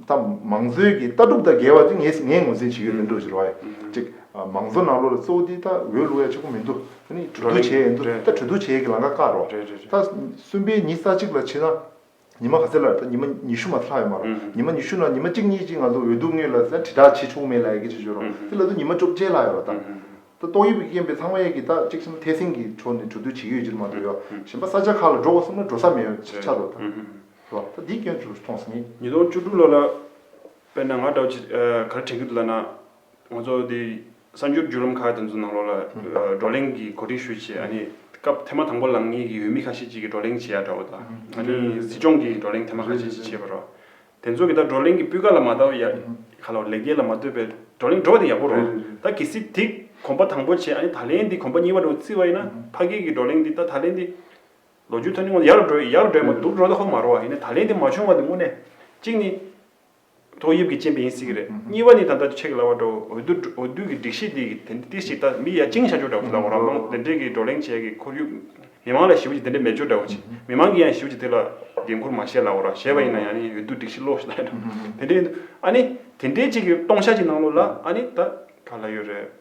ད་མང་གཙོའི་གྱི་ལྟ་གྲུབ་དང་འགལ་བ་དེ་ངས་ངས་ངོས་འཛིན་བྱེད་ཀྱི་ཡོད་འདུག་ཅེས་རོ་ཨ། གཅིག་མང་གཙོ་ནང་རུ་ལ་གཙོ་བོ་དེ་ད་འོས་བླུག་ཡ་ཆོག་གི་མི་འདུག་ཨ་ནི་གྲོས་བསྡུར་བྱས་ཡ་འདུག་ད་གྲོས་བསྡུར་བྱས་ཀྱི་ལང་ཀ་བཀག་རོགས། ད་གསུམ་པའི་ཉིན་ས་གཅིག་ལ་ཕྱིན་ན། ཉི་མ་ག་ཚོད་ལ་རེད་ད་ཉི་མ་ཉི་ཤུ་མ་ཚར་ལྷག་ཡོད་མ་རེད་ཉི་མ་ཉི་ཤུ་ནང་ཉི་མ་གཅིག་གཉིས་གཅིག་ང་ཚོ་འོས་ལྡུག་ངེས་ལ་དྲིལ་བསྒྲགས་བྱེད་ཆོག་མེད་ལ་ཡི་གེ་བྱེད་ཆོག་རོགས་དེ་ལ་དུ་ཉི་མ་བཅོ་བརྒྱད་ལྷག་ཡོད་རེད་ད་ད་ཏོག་དབྱིབས་རྐྱེན་པས་ཚང་མ་ཡས་ཀྱི་ད་གཅིག་གསུམ་ཐེ་སེང་གི་ཁྲོ་ནས་གྲོ་སྡུད་བྱེད་ཀྱི་ཡོད་ཅི་རེད་མ་གཏོགས་ཡོ་གཞན་པ་ས་ཆ་ཁག་ལ་འགྲོ་དགོས་གསུངས་ན་འགྲོ་ས་མེད་ཡོ་ཆ་ཆ་རོགས་ད་རོགས་ད་འདིའི་སྐྱོན་ཚུ་མཐོང་སོང་ངས། ཉིས་སྟོང་བཅུ་དྲུག་ལོ་ལ་དཔེར་ན་ང་འདྲ་བོ་ཆེ་ག་རེ་དྲན་གྱི་འདུག་ལ་ན་ང་ཚོ་འདི་གསར་འགྱུར་བརྒྱུད་ལམ་ཁག་དེ་ཚོའི་ནང་ལོགས་ལ་བགྲོ་གླེང་གི་གོ་སྒྲིག་ཞུ་ཆེད་སྐབས་དེ་མ་དང་པོ་ལངས་ངེས་ཀྱི་ཡུལ་མི་ཁ་ཤས་ཅིག་གིས་བགྲོ་གླེང་བྱེད་ཡག་འདྲ་བོ་དང་གཟིགས་སྐྱོང་གི་བགྲོ་གླེང་དེ་མ་ཁ་ཤས་ཅིག་བྱེད་པ་རོགས། དེ་ཚོ་གིས་ད་བགྲོ་གླེང་གི་སྤུས་ཀ་ལ་མ་བལྟ་བར་ཡར་ཁ་ལོ་ལེགས་སྐྱེས་ལ་མ་བལྟོས་པའི་བགྲོ་གླེང་འགྲོ་བ་དེ་ཡག་པོ་རོགས། ད་གལ་སྲིད་དེ་གོམ་པ་དང་པོ་བྱས་ད་ལན་དེ་གོམ་པ་གཉིས་པ་འགྲོ་རྩིས་བ་ཡིན་ན་ཕ་སྐད་ཀྱི་བགྲོ་གླེང་འདི་ད་ད་ལན་དེ་ལོ་རྒྱུས་ཐོན་ནས་ཡར་འགྲོ་ཡར་འགྲོ་ཡ་མ་འདུག་འགྲོ་ད་ཧོ་མ་རོ་བ་ཡིན་ན་ད་ལན་དེ་མ་བྱུང་བ་དེ་དངོས་གནས་གཅིག་ནི། ཏོག་དབྱིབས་ཀྱི་རྐྱེན་པས་ཡིན་སྲིད་ཀྱི་རེད། གཉིས་པ་ནི་ད་ལྟ་ཆེ་གེ་ལ་བ་འགྲོ་འོས་བསྡུ་གི་སྒྲིག་གཞི་འདི་གི་དེ་འདི་ཞིག་ད་མི་ཡ་ཅིང་ཤ་ཅོ་འདྲ་བོ་དང་རང་དབང་དེ་འདྲས་ཀྱི་བགྲོ་གླེང་བྱས་ཀྱི་ཁོར་ཡུག་མི་མང་ལ་ཞི་བ་ཅིག་དེ་འདྲས་མེད་ཅོ་འདྲ་བོ་ཅིག་མི་མང་གིས་ཡང་ཞི་བ་ཅིག་དེ་ལ་འགན་ཁུར་མ་བཞེས་ལ་འོར་ར་བཞེས་པ་ཡིན་ན་ཡང་ནི་འོས་བསྡུ་སྒྲིག་གཞི་ལོག་ཤི་ལ་ཡོད་དེ་འདྲས་ཡིན་འདུག་ཨ་ནི་དེ་འདྲས་ཅིག་གི་སྟོང་ཤ་ཅིག་གནང་ལོ་ལ་ཨ་ནི་ད་ག་ལ་ཡོད་རེད།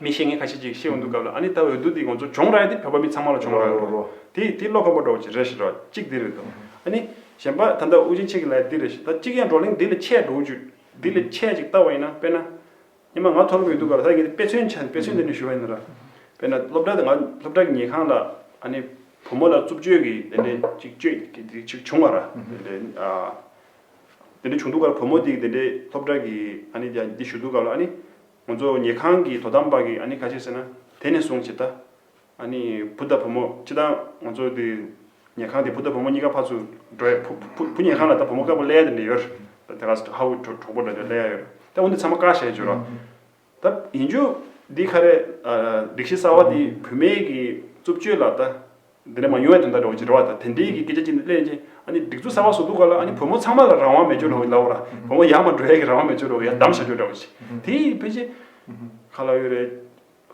མི་ཤེས་ངན་ཁ་ཤས་ཀྱིས་ཤེས་འོང་འདུག་གབ་ལ་ཨ་ནི་ད་འོས་བསྡུ་འདི་ང་ཚོ་བྱུང་ར་ཡི་དེ་བོད་པ་མི་ཚང་མ་ལ་བྱུང་ར་ཡོད་རོ། དེ་དེ་བློ་ཁ་པོ་འགྲོ་བ་ཅིག་རེད་ཤི་རོ། གཅིག་དེ་རེད་དོ། ཨ་ནི། གཞན་པ་ད་འདའ་དབུ་ཅན་ཆེ་གི་ལའི་འདི་རེད་ཤི་ད་གཅིག་ཡང་བགྲོ་གླེང་འདི་ལ་ཆད་འགྲོ་འུ་ཅུད། འདི་ལ་ཆད་ཅིག་བལྟ་བ་ཡིན་ན་དཔེར་ན། ཉི་མ་ང་ཐོ་རངས་མི་འདུག་ག་ལ་ད་ངས་འདི་དཔེ་མཚོན་བྱ་དཔེ་མཚོན་འདི་ནས་ཞུ་བ་ཡིན་ན་ར། དཔེར་ན་སློབ་གྲྭ་དང་ང་སློབ་གྲྭ་གི་ཉལ་ཁང་ལ་ཨ་ནི་བུ་མོ་ལ་རྩུབ་སྤྱོད་ཀྱི་དེ་འདྲས་ཅིག་སྤྱོད་ཀྱི་དེ་ཅིག་བྱུང་བ་ར། དེ་འདྲས་ཨ། དེ་འདྲས་བྱུང་འདུག་ག་ལ་བུ་མོ་དེ་གི་དེ་འདྲས་སློབ་གྲྭ་གི་ཨ་ནི་འདི་ཞུ་འདུག་ག་ལ་ཨ་ནི། ང་ཚོ་ཉལ་ཁང་གི་དོ་དམ་པ་གིས་ཨ་ནི་ག་བྱེད་ཟེར་ན། དེ་ནས་བཟུང་བྱེད། ཨ་ནི་བུ་དང་བུ་མོ་སྤྱི་དང་ང་ཚོ་དེ་ཉལ་ཁང་དེ་བུ་དང་བུ་མོ་གཉིས་ཀ་ཕར་ཚུར་འགྲོ་ཡ། བུ་བུ་བུ་ཉལ་ཁང་ལ་ད་བུ་མོ་དཀར་པོ་གླལ་ཡ་དེ་འདྲ་ཡོད། ད་དེ་ག་ཧ་ཧུ་གྲོ་གྲོགས་པོ་འདྲ་འདྲ་གླལ་ཡ་ཡོད། ད་འོ་འདི་ཚང་མ་ཀ་བྱེད་བྱོས་རོགས། ད་ཡིན་རྒྱུ། འདི་ཁ་རས། སྒྲིག་གཞི་གསར་བ་འདི་བུད་མེད་ཀྱི་རྩུབ་སྤྱོད་ལ་ད་འདི་ནས་མ་ཡུང་བའི་དོན་དག་འདྲ་བོ་ཅིག་རེ་བ་དང་དེ་འབྲེལ་གྱི་སྐད་ཆ་ཅིག་ནི་གླེང་རྗེས་ཨ་ནི་སྒྲིག་འཛུགས་གསར་བ་བཟོ་འདུག་ག་ལ་ཨ་ནི་བུ་མོ་ཚང་མ་ལ་རང་དབང་མེད་ཅོ་རེ་བ་ཡིན་ལབ་བོ་ར་བུ་མོ་ཡར་མར་འགྲོ་ཡས་ཀྱི་རང་དབང་མེད་ཅོ་རེ་བ་ཡར་འདམ་བཞག་རྒྱུ་འདྲ་བོ་ཅིག་དེ་ཕལ་ཆེར་ག་ལ་ཡོད་རེད།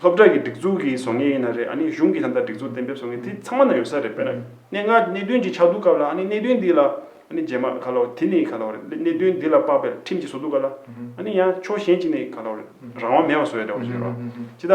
སློབ་གྲྭ་གི་སྒྲིག་འཛུགས་ཀྱི་བཟོ་ངེས་ཡིན་ན་རེད་ཨ་ནི་གཞུང་གི་ད་ལྟ་སྒྲིག་འཛུགས་གཏན་འབེབས་བཟོ་ངེས་དེ་ཚང་མ་ན་ཡོད་ས་རེད་དཔེར་ན་གནས་ལྔ་གནད་དོན་ཅིག་ཆགས་འདུག་ག་ལ་ཨ་ནི་གནད་དོན་འདི་ལ་ཨ་ནི་རྗེས་མར་ག་ལ་འོ་དེ་ནི་ག་ལ་འོ་རེད་གནད་དོན་འདི་ལ་དཔག་པའི་ཁྲིམས་ཅིག་བཟོ་འདུག་ག་ལ་ཨ་ནི་ཡང་ཕྱོགས་གཞན་ཅིག་ནས་ག་ལ་འོ་རེད་རང་དབང་མེད་པ་བཟོ་ཡས་འདྲ་བོ་ཅིག་རེད་བ་ཅི་ད།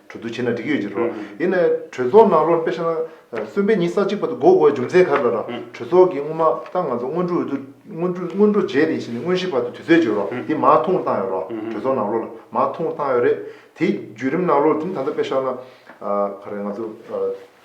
གྲོས་བསྡུར་བྱས་ན་འགྲིག་གི་ཡོད་ཅེས་རོ། ཡིན་ནའི་གྲོས་ཚོགས་ནང་བློར་དཔེ་བྱས་ན། གསོན་པའི་ཉིན་ས་གཅིག་པ་དུ་འགོག་དགོས་རྒྱུ་མཚན་ག་རེ་ལ་རག་གྲོས་ཚོགས་ཀྱིས་སྔོན་མ་ད་ང་ཚོ་སྔོན་འགྲོ་འོས་བསྡུ། སྔོན་འགྲོ་སྔོན་འགྲོ་རྗེས་དེ་བྱས་ནས་སྔོན་གཤེགས་བར་དུ་དུས་ཚོད་བྱས་རོགས་དེ་མ་ཐུང་བཏང་ཡོད་རོགས་གྲོས་ཚོགས་ནང་བློ་ལ་མ་ཐུང་བཏང་ཡོད་རེད། དེའི་བརྒྱུད་རིམ་ནང་བློར་དེ་ནི་ད་ལྟ་དཔེ་བྱས་ན། ཨ་ཁ་རེ་ང་ཚོ།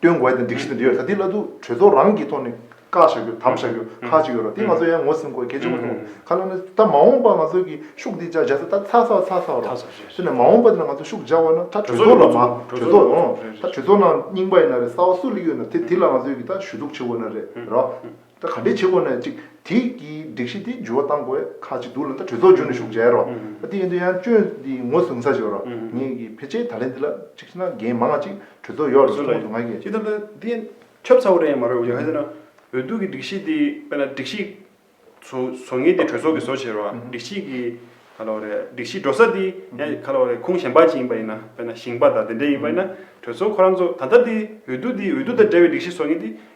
སྟོན་དགོས་དང་སྒྲིག་གཞི་དང་འབྲེལ་ཡོད་ལ་དེ་སླད་དུ་གྲོས་ཚོགས་རང་གི་ཐོག་ནས་བཀའ་བཞག་རྒྱུ་དམ་བཞག་རྒྱུ་ཁག་གཅིག་ཡོད་རོགས་དེ་ང་ཚོ་ཡང་ངོས་ཟིན་དགོས་གལ་ཆེན་པོ་མཐོང་ཁ་ལ་ནི་ད་མ་འོངས་པ་ང་ཚོ་གི་ཤུགས་དེ་འཇགས་ཚེ་ད་ཚ་ཚ་ཚ་ཚ་རོགས་དེ་ནས་མ་འོངས་པ་དེ་ལ་ང་ཚོ་ཤུགས་འཇགས་བ་ན་ད་གྲོས་ཚོགས་ལ་མ་གྲོས་ཚོགས་འོང་ད་གྲོས་ཚོགས་ནང་རྙིང་པ་ཡིན་ན་རེད་གསར་བ་སུ་ལ་ཡོད་ན་དེ་དེ་ལ་ང་ཚོས་ཀྱི་ད་ཞུ་གཏུགས་བྱེད་དགོས་ན་རེད་རོགས། ད་ག་འདྲས་བྱེད་དགོས་ན་ཅིག་དེ་ཀྱི་སྒྲིག་གཞི་དེ་འགྱུར་བ་གཏང་དགོས་ཁག་ཅིག་འདུག་ལ་ད་གྲོས་ཚོགས་འཇུག་ནས་ཞུགས་བྱས་རོགས་ཨ་དེ་ཡིན་དུས་ཡང་སྤྱོད་འདི་ངོས་བཟུང་ས་ཞིག་རོགས་ངེད་ཀྱི་ཕལ་ཆེར་ད་ལན་འདི་ལ་ཅིག་ཤི་ན་རྒན་མང་ང་ཅིག་གྲོས་ཚོགས་ཡོག་རེད་ཐོང་དུ་ང་གི། ཅི་ལྟར་ན་དེ་ཁྱབ་ཚ་བོ་རེད་ཡང་མ་རེད་ཡང་ཟེར་ན་འོས་བསྡུ་གི་སྒྲིག་གཞི་དེ་དཔེར་ན་སྒྲིག་གཞི་བཟོ་བཟོ་ངེས་དེ་གྲོས་ཚོགས་ཀྱི་བཟོ་བྱས་རོགས་ཨ་སྒྲིག་གཞི་གི་ག་ལ་བ་རེད་སྒྲིག་གཞི་འགྲོ་ས་དེ་ཡང་ག་ལ་བ་རེད་ཁུངས་གཞན་པ་ཅིག་ཡིན་པ་ཡིན་ན་དཔེར་ན་ཞིང་པ་དང་དེ་འདྲས་ཡིན་པ་ཡིན་ན་གྲོས་ཚོགས་ཁོ་རང་ཚོ་ད་ལྟ་དེ་འོས་བསྡུ་དེ་འོས་བསྡུ་དང་འབྲེལ་བའི་སྒྲིག་གཞི་བཟོ་ངེས་དེ་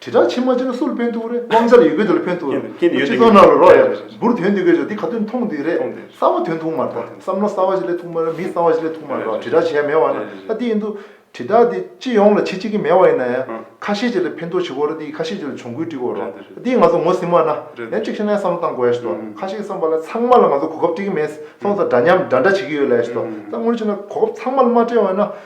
དྲིལ་བསྒྲགས་ཕྱི་མ་ཅི་ན་སུ་ལ་ཕན་ཐུག་རེད་དབང་ཆ་ལ་ཡོད་དགོས་དེ་ལ་ཕན་ཐུག་རེད་སྤྱི་ཚོགས་ནང་ལ་རོགས་ཡ་རེད་འབུར་དོན་དེ་གོས་ཆོག་འདི་ག་དོན་ཐུང་དེ་རེད་གསར་བ་དོན་ཐུང་མ་རེད་ད་བསམ་བློ་གསར་བ་ཞིག་ལས་ཐུང་མ་རེད་མི་གསར་བ་ཞིག་ལས་ཐུང་མ་རེད་དྲིལ་བསྒྲགས་བྱེད་ཡ་མེད་བ་ན་ད་དེ་ཡིན་དུ་དྲིལ་བསྒྲགས་དེ་སྤྱི་ཡོངས་ལ་བྱེད་ཅི་གི་མེད་བ་ཡིན་ན་ཡང་ཁ་ཤས་ཅིག་ལ་ཕན་ཐོག་བྱེད་དགོས་རེད་དེ་ཡི་ཁ་ཤས་ཅིག་ལ་གྱོང་གུད་སྤྲི་དགོས་རེད་དེ་ཡི་ང་ཚོ་ངོ་ཟིན་བ་ན་ཡང་གཅིག་ཤེས་ན་ཡང་བསམ་བློ་གཏང་དགོས་ཡ་ཞིག་ཏོ་ཁ་ཤས་ཀྱི་བསམ་པ་ལ་ཚང་མ་ལ་ང་ཚོ་གོ་སྐབས་སྤྲི་གི་མེད་སོང་ཙང་འདྲ་མཉམ་འདྲ་འདྲ་བྱེད་ཀྱི་ཡོད་ལ་ཡ་ཞིག་ཏོ་ད་སྔོན་ལ་ཕྱིན་ན་གོ་སྐབས་ཚང་མ་ལ་མ་སྤྲད་བ་ན་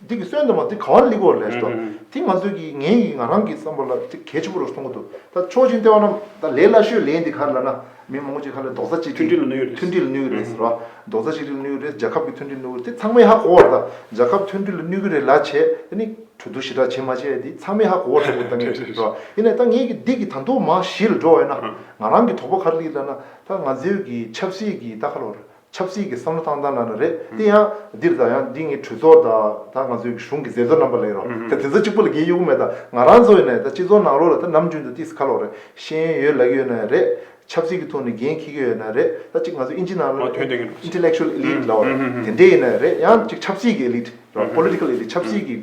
འདི་གི་གསོན་དུ་མ་དེ་ག་བར་ལེགས་བ་རེད་ལྟོས། དེ་ང་ཚོས་ཀྱིས་ངའི་ཡིག་ང་རང་གི་བསམ་པ་ལ་དེ་གལ་ཆེན་པོ་རུ་སོང་གི་འདུག་ད་ཆོག་མཆན་སྟེར་བ་རྣམས་ད་ལས་སླ་ཤོས་ལས་འདི་གར་ལ་ན་མི་མང་པོ་ཅིག་ཧ་ལས་རྡོག་རྩ་གཅིག་སྒྲིལ་མཐུན་སྒྲིལ་ལ་གནོད་གི་རེད་ཟེར་བ། རྡོག་རྩ་གཅིག་སྒྲིལ་ལ་གནོད་གི་རེད་རྒྱལ་ཁབ་ཀྱི་མཐུན་སྒྲིལ་གནོད་གི་རེད་དེ་ཚང་མས་ཧ་གོ་བར་ད་རྒྱལ་ཁབ་མཐུན་སྒྲིལ་ལ་གནོད་གི་རེད་ལ་བྱས་དེ་ནི་གྲོས་བསྡུར་ཞི་དྲག་བྱས་མ་བྱས་དེ་ཚང་མས་ཧ་གོ་བར་འདུག་ད་ངས་ཟེར་བ། དེ་ནས་ད་ངས་ཀྱིས་འདི་གི་ད་མདོ་མ་གཞིར་འགྲོ་བས་ན་ང་རང་གི་དོགས་པ་ག་རེ་ལེགས་ལ་ན་ད་ང་ཚོའི་གི་ཆབ་སྲིད་ཀྱི་ད་ག་ལ་བར་ཆབ་སྲིད་ཀྱི་བསམ་བློ་ཐང་ཐང་གནང་ན་རེད། དེ་ཡང་འདིར་ད་ཡང་འདི་ངའི་གྲོས་ཚོགས་དང་ད་ང་ཚོའི་གཞུང་གི་མཛད་གཙོ་རྣམ་པ་ལས་རོགས་ད་དེ་ཚོ་གཅིག་པུ་ལ་རྒྱལ་ཡོད་གི་མེད་ད་ང་རང་ཚོ་ཡོད་ནས་ད་སྤྱི་ཚོགས་ནང་ལོགས་ལ་ད་ནམ་རྒྱུན་དུ་ཏིས་ཁ་ལོག་རེད་ཤེས་ཡོན་ཡོད་ལག་ཡོད་ན་རེད། ཆབ་སྲིད་ཀྱི་ཐོག་ནས་འགན་འཁྱེར་གྱི་ཡོད་ན་རེད་ད་གཅིག་ང་ཚོ་ཨིན་ཇི་ནང་ལོགས་ལ intellectual elite ལོགས་རེད་དེ་འདྲས་ཡོད་ན་རེད་ཡང་གཅིག་ཆབ་སྲིད་ཀྱི elite རོགས political elite ཆབ་སྲིད་ཀྱི་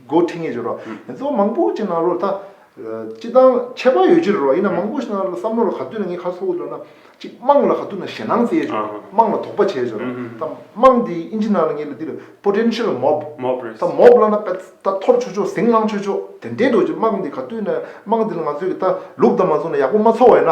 འགོ་ཁྲིད་ངེས་ཡོད་རོགས་དེ་ཚོ་མང་པོ་གཅིག་ནང་ལོགས་ལ་ད། སྤྱི་བཏང་ཁྱད་པར་ཡོད་ཕྱིར་རོ། ཡིན་ན་མང་པོ་ཞིག་ན་བསམ་བློ་ལ་ག་དུས་ན་ངའི་ཁ་ཚོགས་འདུ་ན་གཅིག་དམངས་ལ་ག་དུས་ན་ཞེ་སྣང་བསྩལ་ཆོག་དམངས་ལ་དོགས་པ་བྱས་ཆོག་ད་དམངས་དེ་ཨིན་ཇི་ནང་ལ་ངེས་ལ་འདི་ལ Potential Mob ད་མོབ་བསླ་ན་པད་ད་འཐོར་ཆོག་ཆོག་ཟིང་བསླང་ཆོག་ཆོག་དེ་འདྲའི་འགྲོ་ཆེད་དམངས་དེ་ག་དུས་ན་དམངས་དེ་ལ་ང་ཚོས་གི་ད་ལུགས་ལྡང་མ་བཟུང་ན་ཡག་པོ་མ་ཚོར་བ་ཡིན་ན་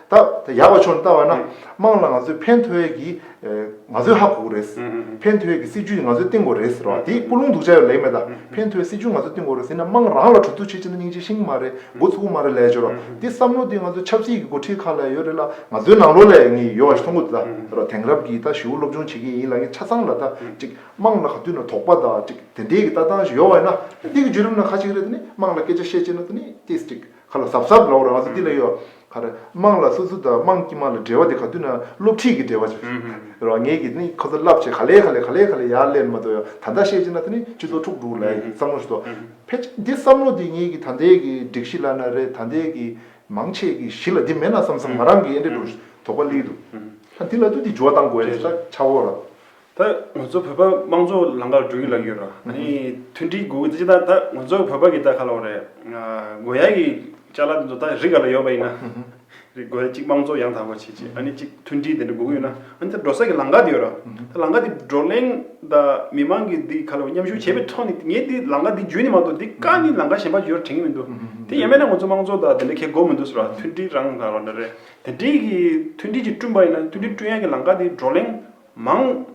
ད་ཡག་པ་ཆོག་ནས་བལྟ་བ་ན་དམངས་ལ་ང་ཚོས་ཕན་ཐོགས་ཡས་ཀྱི་ང་ཚོའི་ཧ་གོ་རེད། ཕན་ཐོགས་ཡས་ཀྱི་སྲིད་ཇུས་ནི་ང་ཚོས་བཏིང་གོ་རེད་ཟེར་བ་དེ་སྐུ་རླུང་འདུག་བྱ་ཡོད་ལེགས་མེད་ད་ཕན་ཐོགས་ཡས་སྲིད་ཇུས་ང་ཚོས་བཏིང་གོ་རེད་ཟེར་ན་དམངས་རང་ལ་གྲོས་བསྡུར་བྱེད་ཆེད་ན་སྙིང་རྗེ་ཤིང་མ་རེད་མགོ་ཚུགས་པོ་མ་རེད་ལས་བྱོས་རོགས་དེ་བསམ་བློ་དེ་ང་ཚོ་ཆབ་སྲིད་ཀྱི་མགོ་ཁྲིད་ཁག་ལ་ཡོད་རེད་ལ་ང་ཚོའི་ནང་ལོགས་ལས་ངས་ཡོད་པ་ཞིག་མཐོང་གོ་ད་རོགས་དེང་རབས་ཀྱི་ད་ཞིའུ་སློབ་སྦྱོང་བྱེད་མཁན་ཡིན་ལ་ངས་ཆ་ཚང་ལ་ད་ཅིག་དམངས་ལ་ག་དུས་ན་དོགས་པ་དང་ཅིག་དེ་འདྲའི་ཀྱི་ལྟ་སྟངས་ཞིག་ཡོད་པ་ཡིན་ན་དེ་ཀྱི་བརྒྱུད་རིམ་ན་ཁ་ཅིག་རེད་དེ་ནི་དམངས་ལ་སྐད་ཆ་བཤད་བྱེད་ན་དེ་ནི་དེ་ཅིག་ཁ་ལ་ཟབ་ཟབ་ལོག་རང་སེམས་འདི་ལ་གཡོ། ཁ་རེ་དམངས་ལ་སུ་སུ་དང་དམངས་ཀྱི་དམངས་ལ་འབྲེལ་བ་དེ་ག་དུས་ན་སློབ་ཁྲིད་ཀྱི་འབྲེལ་བ་ཞིག་རེད། རང་ཉིད་ཀྱི་ནི་ཁོ་ཚོ་རླབས་ཆེ་ག་ལེ་ག་ལེ་ག་ལེ་ག་ལེ་ཡར་སླེབས་ནི་མ་གཏོགས་ཡང་ད་ལྟ་བཤད་ཅི་ན་དེ་ནི་སྤྱི་ཚོགས་འཁྲུག་འཁྲུག་ལ་བསམ་བློ་ཞིག་གཏོང། ཕལ་ཆེར་འདི་བསམ་བློ་འདི་ཉིད་ཀྱི་ད་ལྟའི་གི་སྒྲིག་གཞི་ལ་ན་རེ་ད་ལྟའི་གི་མང་ཆེས་ཀྱི་གཞི་ལ་འདི་མེད་ན་བསམ་བསམ་ང་རང་གི་ཡེ་འདྲེ་འདུག་དོགས་པ་ལི་འདུག། ད་འདི་ལ་དུས་འདི་འགྱུར་བ་གཏང་དགོས་རེད་ས་ཆ་བོ་ར། ད་ང་ཚོ་བོད་པ་དམངས་གཙོ་ལམ་ཁར་འགྲོ་གི་ལགས་ཡོད་ར་ཨ་ནི་མཐུན་སྒྲིལ་དགོས་གི་ད་ད་ང་ཚོ་བོད་པ་གི་ད་ག་ལ་བ་རེད་དགོས་ཡ་གི་ལྕ་ལ་དེ་ཚོ་ད་རི་ག་ལ་ཡོད་པ་ཡིན་ན་རི་དགོས་ཡ་གཅིག་དམངས་གཙོ་ཡང་དག་པ་བྱེད་ཅིག་ཨ་ནི་གཅིག་མཐུན་སྒྲིལ་དེ་འདྲ་དགོས་གི་ཡོད་ན་ཨ་ནི་ད་འགྲོ་ས་གི་ལམ་ཁ་དེ་ཡོད་ར་ད་ལམ་ཁ་དེ་བགྲོ་གླེང་ད་མི་དམངས་གི་དེ་ག་ལ་བ་མཉམ་ཞུགས་བྱེད་པའི་ཐོག་ནས་ངས་དེ་ལམ་ཁ་དེ་བརྒྱུད་ནས་མ་གཏོགས་དེ་ཀ་ནི་ལམ་ཁ་གཞན་པ་བརྒྱུད་ར་དྲན་གི་མི་འདུག་དེ་ཡན་མན་ན་ང་ཚོ་དམངས་གཙོ་ད་དེ་འདྲ་ཁེ་དགོས་མི་འདུག་ས་ར་མཐུན་སྒྲིལ་རང་ད་ར་འདྲ་རེད་དེ་འདྲིའི་གི་མཐུན་སྒྲིལ་གྱི་བསྐྲུན་པ་ཡིན་ན་མཐུན་སྒྲིལ་བསྐྲུན་ཡ་གི་ལམ་ཁ་དེ་བགྲོ་གླེང་མང།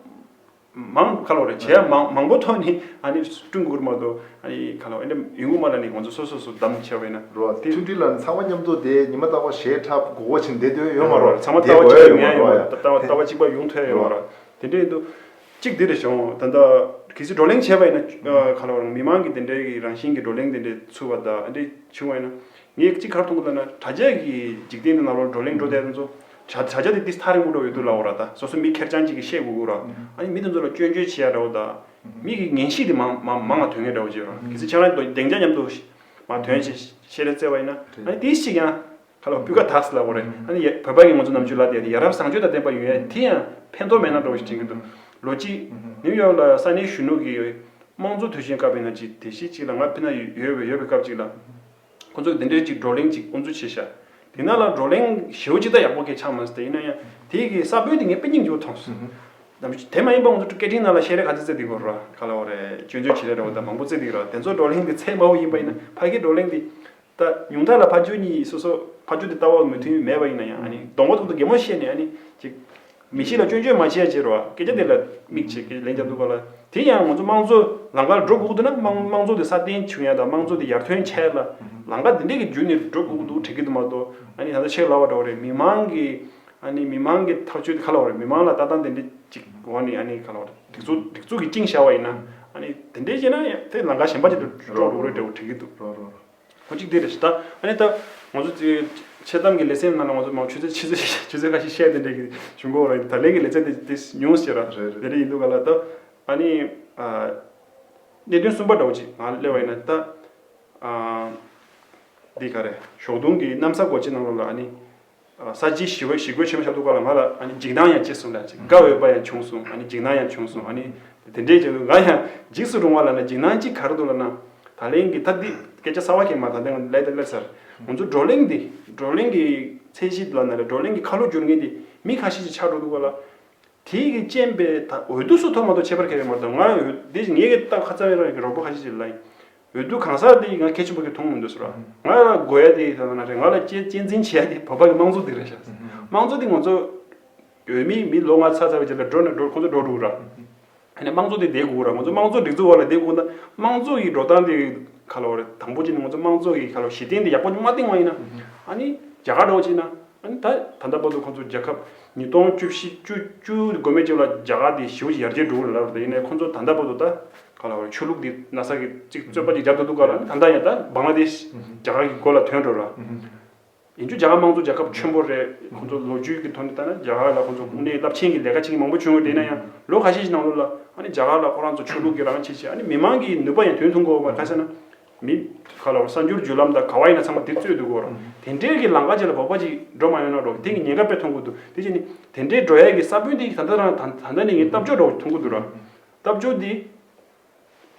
མང། ཁ་ལོ་རེ་བྱས་ཡ་མང་མང་པོ་ཐོན་ནི་ཨ་ནི་ཀྲུང་གོར་མ་དོ་ཨ་ནི་ཁ་ལོ་ཨེ་འདེམ་ཡུལ་ངོ་མ་ལ་ནི་ང་ཚོ་སོ་སོ་སོ་དམ་བཅའ་བས་ན། རོ། མཐུན་སྒྲིལ་ལ་ནི་ཚང་མ་མཉམ་གཏོ་དེ་ཉི་མ་ལྟ་བ་ཞེས་ཁྲ་བགོ་བོ་བྱེད་འདེད་དོན་ཡོད་མ་རོ། ཚང་མ་ལྟ་བ་གཅིག་པ་མེད་ཡོད་མ་རོ། ལྟ་བ་ལྟ་བ་གཅིག་པ་ཡུང་ཐོན་ཡོད་མ་རོ། དེ་འདྲའི་དུ་གཅིག་དེ་རེ་བྱུང་ད་ལྟ་གལ་སྲིད་བགྲོ་གླེང་བྱས་པ་ཡིན་ན་ཁ་ལོ་རང་མི་མང་གི་དེ་འདྲའི་རང་བཞིན་གྱི་བགྲོ་གླེང་དེ་འདྲའི་ཚུལ་བ་དག་ཨ་འདྲའི་བྱུང་བ་ཡིན་ན་ངས་གཅིག་གར་ཐུག་གི་འདུག་ན་དྲ་རྒྱ་གི་འཇིག་རྟེན་འདི་ནང་ལོག་བགྲོ་གླེང་བགྲོ་བསྡད་དེ་ཚོ་དྲ་དྲ་རྒྱ་འདི་འདི་ལྟར་རིང་པོ་འགྲོ་ཡོད་དུས་ལ་འོ་ར་ད་སོ་སོ་མི་ཁེར་རྐྱང་གཅིག་གིས་བཤད་དགོས་དགོས་ར་ཨ་ནི་མི་དེ་ཚོ་ལ་སྐྱོན་བརྗོད་བྱེད་ཡ་འདྲ་བོ་ད་མི་གི་ངན་གཤིས་དེ་མང་མང་མང་ང་དོན་ངན་འདྲ་བོ་བྱེད་ར་གལ་སྲིད་ཁྱེད་རང་གི་གདེང་འཇགས་མཉམ་དུ་མ་དོན་བྱེད་བྱེད་རེ་བརྩེ་བ་ཡིན་ན་ཨ་ནི་དེ་གཅིག་ཡང་ཁ་ལོ་སྤུས་ཀ་དག་སི་ལ་འོ་རེ་ཨ་ནི་ཡ་བོད་པ་ཡིན་ང་ཚོ་ནམ་ཆུ་ལ་བསྡད་དེ་ཡ་རབས་བཟང་སྤྱོད་དང་ལྡན་པ་ཡོད་ཡ་དེ་ཡང་ཕན་ཐོག་མེད་ན་འདྲ་བོ་ཞིག་དྲན་གི་འདུག་ལོ་གཅིག་ནིའུ་ཡོག་ལ་ས་གནས་གཞོན་ནུ་གི་དམངས་གཙོ་དུས་ཆེན་སྐབས་ཡིན་ན་ཅིག་དེ་གཞི་གཅིག་ལ་ང་ཕི་ན་ཡོད་ཡོད་པའི་སྐབས་གཅིག་ལ། ཁོ་ཚོ་འདི་འདྲའི་ཅིག་བགྲོ་གླེང་ཅིག་ཨུ་ཚུགས་བྱེད་ཤག་དེ་ནང་ལ་བགྲོ་གླེང་ཞེའུ་ཅི་ད་ཡག་པོ་གས་ཆགས་མ་ཟད་ཡིན་ན་ཡང་དེ་གི་ས་བོན་དེ་ངས་དཔེ་རྙིང་ཡོད་མཐོང་སོང་དེ་མ་ཡིན་པ་ཨུ་ཚུགས་སྐད་འཕྲིན་ནང་ལ་བཤད་རེས་ག་ཚོད་བརྩེ་འདི་གོ་རོ་ར་ག་ལ་བོ་རེད་སྤྱོད་འཇོག་བྱེད་རེས་རོ་ད་མང་པོ་བརྩེ་འདི་གོ་རོ་དེ་ཚོ་བགྲོ་གླེང་དེ་ཚད་དམའ་བོ་ཡིན་པ་ཡིན་ན་ཕ་གི་བགྲོ་གླེང་དེ་ད་ཉུང་མཐའ་ལ་ཕ་ཇོ་གཉིས་སོ་སོ་ཕ་ཇོ་དེ་ལྟ་བ་མོས་མཐུན་མེད་པ་ཡིན་ན་ཡང་ཨ་ནི་གདོང་པ་ཐོག་ཏུ་གད་མོ་བཤད་ནས་ཨ་ནི་ཅིག། མི་གཤིས་ལ་སྐྱོན་བརྗོད་མ་བྱས་ཕྱིར་རོ། སྐད་ཆ་དེ་ལ་མིག་ཅེས་ཀྱི་ལན་བརྒྱབ་འདུག་པ་ལ། དེ་ཡང་ང་ཚོ་དམངས་གཙོ་ལང་ཀར་འགྲོ་སྒུག་འདུག་ན་དམངས་གཙོ་དེ་སྲ་བརྟན་འབྱུང་ཡ་དང་དམངས་གཙོ་དེ་ཡར་ཐོན་བྱ་ཡ་ལ། ལང་ཀ་དེ་འདྲས་ཀྱི་བརྒྱུད་ནས་འགྲོ་སྒུག་འདུག་དྲན་གྱི་འདུག་མ་གཏོགས་ཨ་ནི་ད་ལྟ་ཆེས་གླ་བ་འདྲ་བོ་རེད་མི་མང་གི། ཨ་ནི་མི་མང་གི་ཐག་གཅོད་དེ་ག་ལ་བ་རེད་མི་མང་ལ་ལྟ་སྟངས་དེ་འདྲས་ཅིག་འོ་ནི་ཨ་ནི་ག་ལ་བ་རེད་སྒྲིག་འཛུགས་སྒྲིག་འཛུགས་ཀྱི་བཅིངས་བཞག་བ་ཡིན་ན། ཨ་ནི་དེ་འདྲས་བྱས་ན་དེ་ལང་ཀ་གཞན་པ་ཅིག་ཏུ་འགྲོ་འགྲོ་བོ་རེད་འདྲ་བོ་དྲན་གྱི་འདུག། ཁོ་གཅིག་དེ་རེད་ཟེར། ད་ནི་ད། ང་ཚོ་ཚོའི་ཆེད་གཏམ་གྱི་ལེ་ཚན་ནང་ལ་ང་ཚོ་མང་ཆོས་ཆོས་ཚོད་ཁ་ཤས་བཤད་དེ་འདྲ་གི་བྱུང་གོ་རང་ད་ལན་གྱི་ལེ་ཚན་དེ་དེ་ཉུང་ཟེར་ར། རེད་རེད། དེ་རེད་ཡིན་འདུག་ག་ལ་ད། ད་ནི། གནད་དོན་གསུམ་པ་འདྲ་བོ་ཅིག་ང་གླེང་བ་ཡིན་ན་ད། འདི་ག་རེད་ཞོགས་དུང་གི་གནམ་ས་གོ་ཆེ་ནང་ལོགས་ལ་ཨ་ནི། ས་བཅད་ཞི་བའི་ཞི་རྒོལ་ཆེན་མོ་ཤར་འདུག་ག་ལ་ང་ལ་འཇིགས་སྣང་ཡང་སྐྱེས་སོང་ལ་དགའ་འོས་པ་ཡང་བྱུང་སོང་འཇིགས་སྣང་ཡང་བྱུང་སོང་དེ་འདྲའི་ཆེད་དུ་ང་ཡང་འཇིགས་སུ་རུང་བ་ལ་འཇིགས་སྣང་ཅིག་གར་འདུག་ལ་ན། ད་ལན་གྱི་ཐབས་འདི་སྐད་ཆ་གསར་བ་ཞིག་མ་ད་དེང་ལས་དེ་སླེབས་ཚར། ང་ཚོ་བགྲོ་གླེང་འདི་བགྲོ་གླེང་གི་ཚད་གཞི་ལ་ན་རེ་བགྲོ་གླེང་གི་ཁ་ལོ་སྒྱུར་མཁན་དེ་མི་ཁ་ཤས་ཤིག་ཆགས་འགྲོ་འདུག་ག་ལ། དེའི་གི་རྐྱེན་པས་ད་འོས་བསྡུ་སོགས་ཐོབ་མ་ཐོབ་ཁྱད་པར་ཁ་བའི་མ་རེད་དོ། ང་འོས་བསྡུ་དེ་བཞིན་ངའི་སྐད་དེ་ཏག་ཏག་ཧ་ཚ་བས་རང་གི་རོགས་པོ་ཁ་ཤས་ཤིག་ལ་ཡིན། འོས་བསྡུ་གང་ཟག་འདི་ང་གལ་ཆེན་པོ་གི་མཐོང་མི་འདུག་ཟེར་བ། ང་ལ་དགོས་ཡ་འདི་ང་ལ་གཅེས་འཛིན་བྱེད་ཡ་འདི་བོད་པ་གི་དམངས་གཙོ་འདི་རེད་བྱས། དམངས་གཙོ་འདི་ང་ཚོ་བོད་མི་མི་ལོ་ང་ཚ་ཚ་བའི་རྗེས་ལ་འགྲོ་ནས་འགྲོ་ཁོ་ཚོ་འགྲོ་འགྲོ་ར། ཡིན་ན་དམངས་གཙོ་འདི་བསྡད་དགོས་ར་ང་ཚོ་དམངས་གཙོ་སྒྲིག་འཛུགས་བར་ལ་བསྡད་དགོས་ན་དམངས་གཙོ་གི་འགྲོ་སྟངས་འདི་ཁ་ལོ་རེད་དང་པོ་ཆེ་ནི་ང་ཚོ་དམངས་གཙོ་གི་ཁ་ལོ་གཞི་རྟེན་འདི་ཡག་པོ་མ་བཏིང་བ་ཡིན་ན་ཨ་ནི་རྒྱ་གར་འགྲོ་བ་ཅིག་ན་ཨ་ནི་ད་ད་ལྟ་བར་དུ་ཁོ་ཚོ་རྒྱལ་ཁབ་ཉིས་སྟོང་བཅུ་བཞི་བཅུ་བཅུ་དགོས་མེད་ཅིག་ལ་རྒྱ་གར་འདི་ཞི་བ་ཞིག་ཡར་རྒྱས་འགྲོ་གི་རེད་ལབ་རེད་ཡིན་ན་ཁོ་ཚོ་ད་ལྟ་བར་དུ་ད། ག་ལ་བར་ཆོས་ལུགས་འདི་ན་ས་གི་ཅིག་རྩོད་པ་ཅིག་རྒྱབ་ཏུ་འདུག་ག་ལ་ད་ལྟ་ཡང་ད་སྦང་ལ་དེ་རྒྱ་གར་གི་མགོ་ལ་དོན་འགྲོ་ར། ཡིན་རྒྱུ་རྒྱ་གར་དམངས་གཙོ་རྒྱལ་ཁབ་ཆེན་པོ་རེད་ཁོང་ཚོ་ལོ་རྒྱུས་ཀྱི་ཐོག་ནས་ལྟ་ན་རྒྱ་གར་ལ་ཁོང་ཚོ་དབུ་མའི་རླབས་ཆེན་གྱི་ལས་ཀ་བྱེད་མཁན་མང་པོ་བྱུང་ཡོད་དེ་ན་ཡང་ལོ་ག་ཤས་ཤིག་ནང་ལོགས་ལ་ཨ་ནི་རྒྱ་གར་ལ་ཁོ་རང་ཚོ་ཆོས་ལུགས་ཀྱི་རང་བྱེད་བྱེད་ཨ་ནི་མི་དམངས་ཀྱི་ནུས་པ་ཡང་དོན་ཐུང་གོ་བ་ཁ་ས་ན་མི་ག་ལ་བར་གསར་འགྱུར་བརྒྱུད་ལམ་དང་ག་བ་ཡིན་ན་ཚང་མ་དེ་རྩོད་འདུག་གོ་དེ་འདྲའི་གི་ལང་ཀ་བྱས་ལ་བོགས་པ་ཅིག་འགྲོ་མ་ཡོང་ན་རོགས་དེང་གི་ཉེན་ཁ་དཔེ་མཐོང་གི་འདུག་དེ་བྱས་ནས་དེ་འདྲའི་འགྲོ་ཡ་གི་ས་བོན་དེ་ད་ལྟ་དང་ད་ལྟ་ནས་ངས་གཏམ་བརྗོད་རོགས་མཐོང་གི་འདུག་ར། སྟབས་བྱུང་དེ།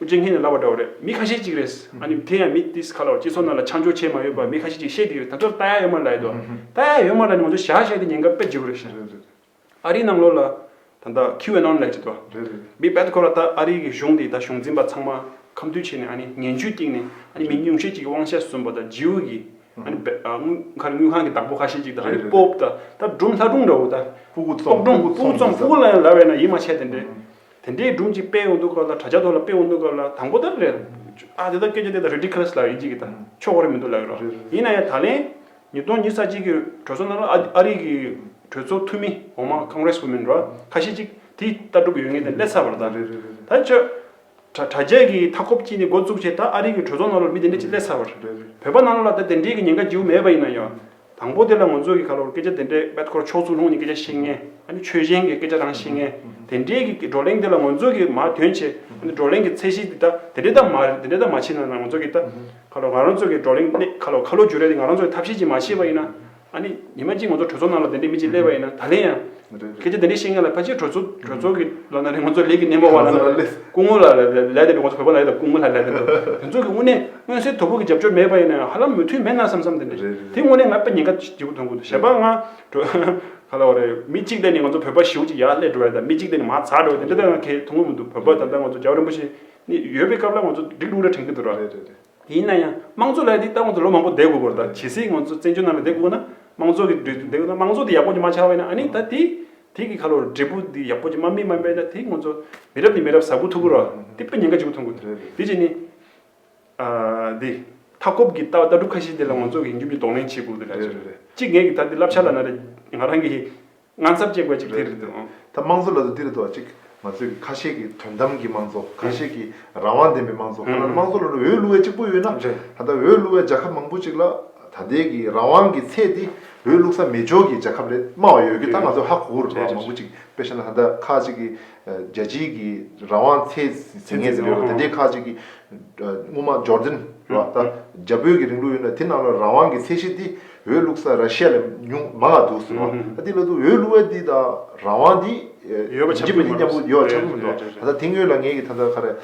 ཨོ་རྒྱན་ངྷི་ནས་ལབ་པ་འདྲ་བོ་རེད་མི་ཁ་ཤས་གཅིག་རེད། ཨ་ནི་དེ་ཡང་མི་ཏིས་ཁ་ལོ་སྤྱི་ཚོགས་ནང་ལ་ཆ་འཇོག་བྱས་མ་ཡོད་པ་མི་ཁ་ཤས་གཅིག་བཤད་འདི་རེད་ད་ཆོག་ཏཱ་ཡ་ཡོད་མ་ལ་ཡོད་དོ། ཏཱ་ཡ་ཡོད་མ་ལ་ནི་ང་ཚོ་བཞག་བཞག་དེ་ཉེན་ཁ་དཔེ་བརྗེ་བོ་རེད་བཞག། ཨ་རིའི་ནང་ལོགས་ལ་ད་ལྟ་ཁི་ཝེ་ནོན་ལས་བྱེད་དོ། མི་དཔལ་ཁོ་ར་ད་ཨ་རིའི་གི་གཞུང་དེ་ད་གཞུང་འཛིན་པ་ཚང་མ་ཁམས་དུས་བྱས་ནས་ཨ་ནི་ངན་བྱུས་སྟེང་ནས་ཨ་ནི་མི་ཉུང་ཤས་གཅིག་གི་དབང་ཤ་ཟོན་པ་ད་ཇིའུ་གི་མཁར་དངུལ་ཁང་གི་བདག་པོ་ཁ་ཤས་ཅིག་དང་ཨ་ནི་སྤོབས་དང་ད་སྦྲུམ་ལྷ་སྒྲུང་འདྲ་བོ་དང། སྤོག་སྒྲུང་སྤོག་རྩོམ་སྤོག་གླ་ཡང་ལ་བས་ན་ཡིད་མ་ཆེས་དེ་འདྲའི། དེ་འདྲའི་སྒྲུང་ཅིག་སྤེལ་འོང་དུ་སྐབས་ལ་དྲ་རྒྱ་ཐོག་ལ་སྤེལ་འོང་དུ་སྐབས་ལ་དང་པོ་ལྟར་རེད། ཨ་དེ་དག་སྐད་ཆ་དེ་དག Ridiculous ལགས་ཡིན་གཅིག་གི་དང་ཆོག་གོ་རེ་མི་འདུག་ལགས་ཀྱི་རོ། ཡིན་ན་ཡང་ད་ལན་ཉིས་སྟོང་ཉིས་ས་གཅིག་གི་གྲོས་ཚོགས་ནང་ལ་ཨ་རིག་གི་གྲོས་ཚོགས་འཐུས་མི་འོག་མ Congress women འདྲ་བ་ཁ་ཤས་ཅིག་དེ་ལྟ་གྲུབ་ཡོད་ངེས་དེ་ལས་ཚར་བར་གདའ། ད་ཆོས་གྲ་རྒྱས་ཀྱི་མཐའ་འཁོབ་ཀྱིས་ནི་འགོ་བཙུགས་བྱས་ད་ཨ་རིག་གི་གྲོས་ཚོགས་ནང་ལོར་མི་དེ་འདྲས་ཅིག་སླེབས་ཚར་བར། བོད་པ་ནང་ལོར་ལ་ད་དེ་འདྲས་ཀྱི་ཉེན་ཁ་འཇིའུ་མེད་པ་ཡིན་ན་ཡང། དང་པོ་དེ་ལ་ངོ་ཚོས་ཀྱི་ག་ལོར་སྐད་ཆ་དེ་འདྲས་དཔལ་འཁོར་མཆོག་ཚུར་ལྷུང་ནས་སྐད་ཆ་བཤད་ངེས། ཨ་ནི་ཆོས་གཞན་གྱི་སྐད་ཆ་རང་བཤད་ངེས། དེ་འདྲས་ཀྱི་བགྲོ་གླེང་དེ་ལ་ངོ་ཚོས་ཀྱིས་མ་དོན་བྱས་ཨ་ནི་བགྲོ་གླེང་གི་ཚད་གཞི་དེ་ད་དེ་འདྲས་ད་མ་རེད་དེ་འདྲས་ད་མ་བྱས་ན་ང་ཚོ་གིས་ད། ག་ལོར་ང་རང་ཚོ་གིས་བགྲོ་གླེང་གནད་ཁ་ལོ་ཁ་ལོ་སྒྱུར་རེ་ནི་ང་རང་ཚོ་གིས་ཐབས་ཤེས་ཀྱིས་མ་བྱས་པ་ཡིན་ན། ཨ་ནི་ཉི་མ་གཅིག་ང་ཚོ་གྲོས་ཚོགས་ནང་ལ་དེ་འདྲའི་མི་གཅིག་བསླེབས་པ་ཡིན་ན་ད་ལན་ཡང། ཁྱེད་ཀྱིས་དེ་འདྲའི་བཤད་མཁན་ལ་ཕལ་ཆེར་གྲོས་ཚོགས་གྲོས་ཚོགས་ཀྱི་ལོ་ན་རེ་ང་ཚོ་ལས་ཀྱི་སྣེ་མོ་བ་ལ་ན་རེ་སྐུ་ངོ་ལ་ལས་དེ་འདྲ་ང་ཚོ་བོད་པ་ལ་ལས་དང་སྐུ་ངོ་ལ་ལས་དེ་འདྲ་དེ་ཚོ་གི་དངོས་གནས་མངོན་གསལ་དོད་པོ་གི་རྒྱབ་སྐྱོར་མེད་པ་ཡིན་ན་ཡང་ཧ་ལམ་མོས་མཐུན་མེད་ན་བསམ་བསམ་དེ་འདྲ་ཡིན་དེ་དངོས་གནས་ང་དཔེ་ཉེན་ཁ་ལྗིད་པོ་ཐོན་གི་འདུག་བྱས་པ་ང་ག་ལ་བ་རེད་མི་གཅིག་བསླེབས་ནས་ང་ཚོ་བོད་པ་བཞི་བོ་གཅིག་ཡར་བསླེབས་འགྲོ་བ་ཡིན་དང་མི་གཅིག་བསླེབས་ནས་མ་ཚར་འགྲོ་བ་ཡིན་དེ་འདྲ་ང་གལ་ཐུག་ངོ་མི་འདུག་བོད་པ་ད་ལྟ་ང་ཚོ་རྒྱ་བོད་རིན་པོ་ཆེ་ནི་ཡོད་པའི་སྐབས་ལ་ང་ཚོ་སྒྲིག་ལུགས་རེ་དྲན་གི་འདུག་ར། ཡིན་ན་ཡང་དམངས་གཙོ་ལས་དེ་ལྟ་བུ་ཚོ་ལོ་མང་པོ་བསྡད་དགོས་པོ་རེད་ད་ཇི་སྲིད་ང་ཚོ་བཙན་བྱོལ་ནང་ལ་བསྡད་དགོས་ན་དམངས་གཙོ་གི་འགྲོས་དེ་བསྡད་དགོས་ན་དམངས་གཙོ་དེ་ཡག་པོ་ཅིག་མ་ཆགས་པས་ན་ཨཱ་ནི་ད་དེ་དེ་གི་ཁ་ལོ་རེད་འབྲས་བུ་དེ་ཡག་པོ་ཅིག་མ་སྨིན་མ་སྨིན་ན་དེ་ང་ཚོ་མི་རབས་ནས་མི་རབས་ཟ་དགོས་ཐུག་གི་རེད་དེ་དཔེ་ཉེན་ཁ་ཅིག་པོ་ཐོན་དགོས་རེད་དེ་བྱས་ནས་ཨཱ་དེ་མཐའ་འཁོབ་ཀྱི་ལྟ་གྲུབ་ཁ་ཤས་དེ་ལ་ང་ཚོ་གིས་མཇུག་གི་གདོང་ལེན་བྱེད་དགོས་རེད་ད་གཟོད་རེད་གཅིག་ངེད་ཀྱི་ད་དེ་བསླབ་བྱ་ལ་ན་རེ་ང་རང་གིས། ང་ཚོར་ཅི་དགོས་ཅིག་དེ་རེད་འདུག་ཨང། ད་དམངས་གཙོ་ལབ་དུ་འདི་རུ་དོགས་ཅིག་ང་ཚོས་ཀྱི་ཁ་ཤས་ཀྱི་དོན་དམ་གྱི་དམངས་གཙོ་ཁ་ཤས་ཀྱི་རང་དབང་ལྡན་པའི་དམངས་གཙོ་ཁོ་ན་ནི་དམངས་གཙོ་ལབ་ན་འོས་བླུ་བའི་གཅིག་པོ་ཡོད་ན་ད་ལྟ་འོས་བླུ་བའི་རྒྱལ་ཁབ་མང་པོ་ཅིག་ལ་ད་ལྟའི་ཀྱི་རང་དབང་གི་ཚད་དེ་འོས་བླུག་ས་མེད་འཇོག་གྱི་རྒྱལ་ཁབ་རེད་སྨྲ་བ་ཡོད་ཀྱི་ད་ང་ཚོ་ཧ་གོ་རུ་འགྲོ་བ་མང་པོ་ཅིག་དཔེ་བཤད་ན་ད་ལྟ་ཁ་ཅིག་གི་རྒྱལ་སྤྱིའི་ཀྱི་རང་དབང་ཚད་ཟིན་ངེས་ཀྱི་རེད་དེ་འདྲའི་ཁ་ཅིག་གི་དངོས་མང་འབྱོར་འཛིན་རེད་པ་ད་རྒྱ་བོད་ཀྱི་རིང་ལུགས་ཡོད་ན་དེ་རྣམས་ལ་རང་དབང་གི་ཚད་གཞི་དེ། འོས་བླུག་ས་ར་ཤི་ཡ་ལས་ཉུང་མང་ང་འདུག་ཟེར་བ། ཨ་ཏི་ལ་དུ་འོས་བླུག་ཡ་འདི་དང་རང་དབང་འདི། ཡོད་པ་ཆགས་ཀྱི་མ་རེད། ཡོད་པ་ཆགས་ཀྱི་མི་འདུག་ད་ལྟ་དེང་ངོས་ལ་ངས་ཀྱི་ད་ལྟ་ཁ་རས།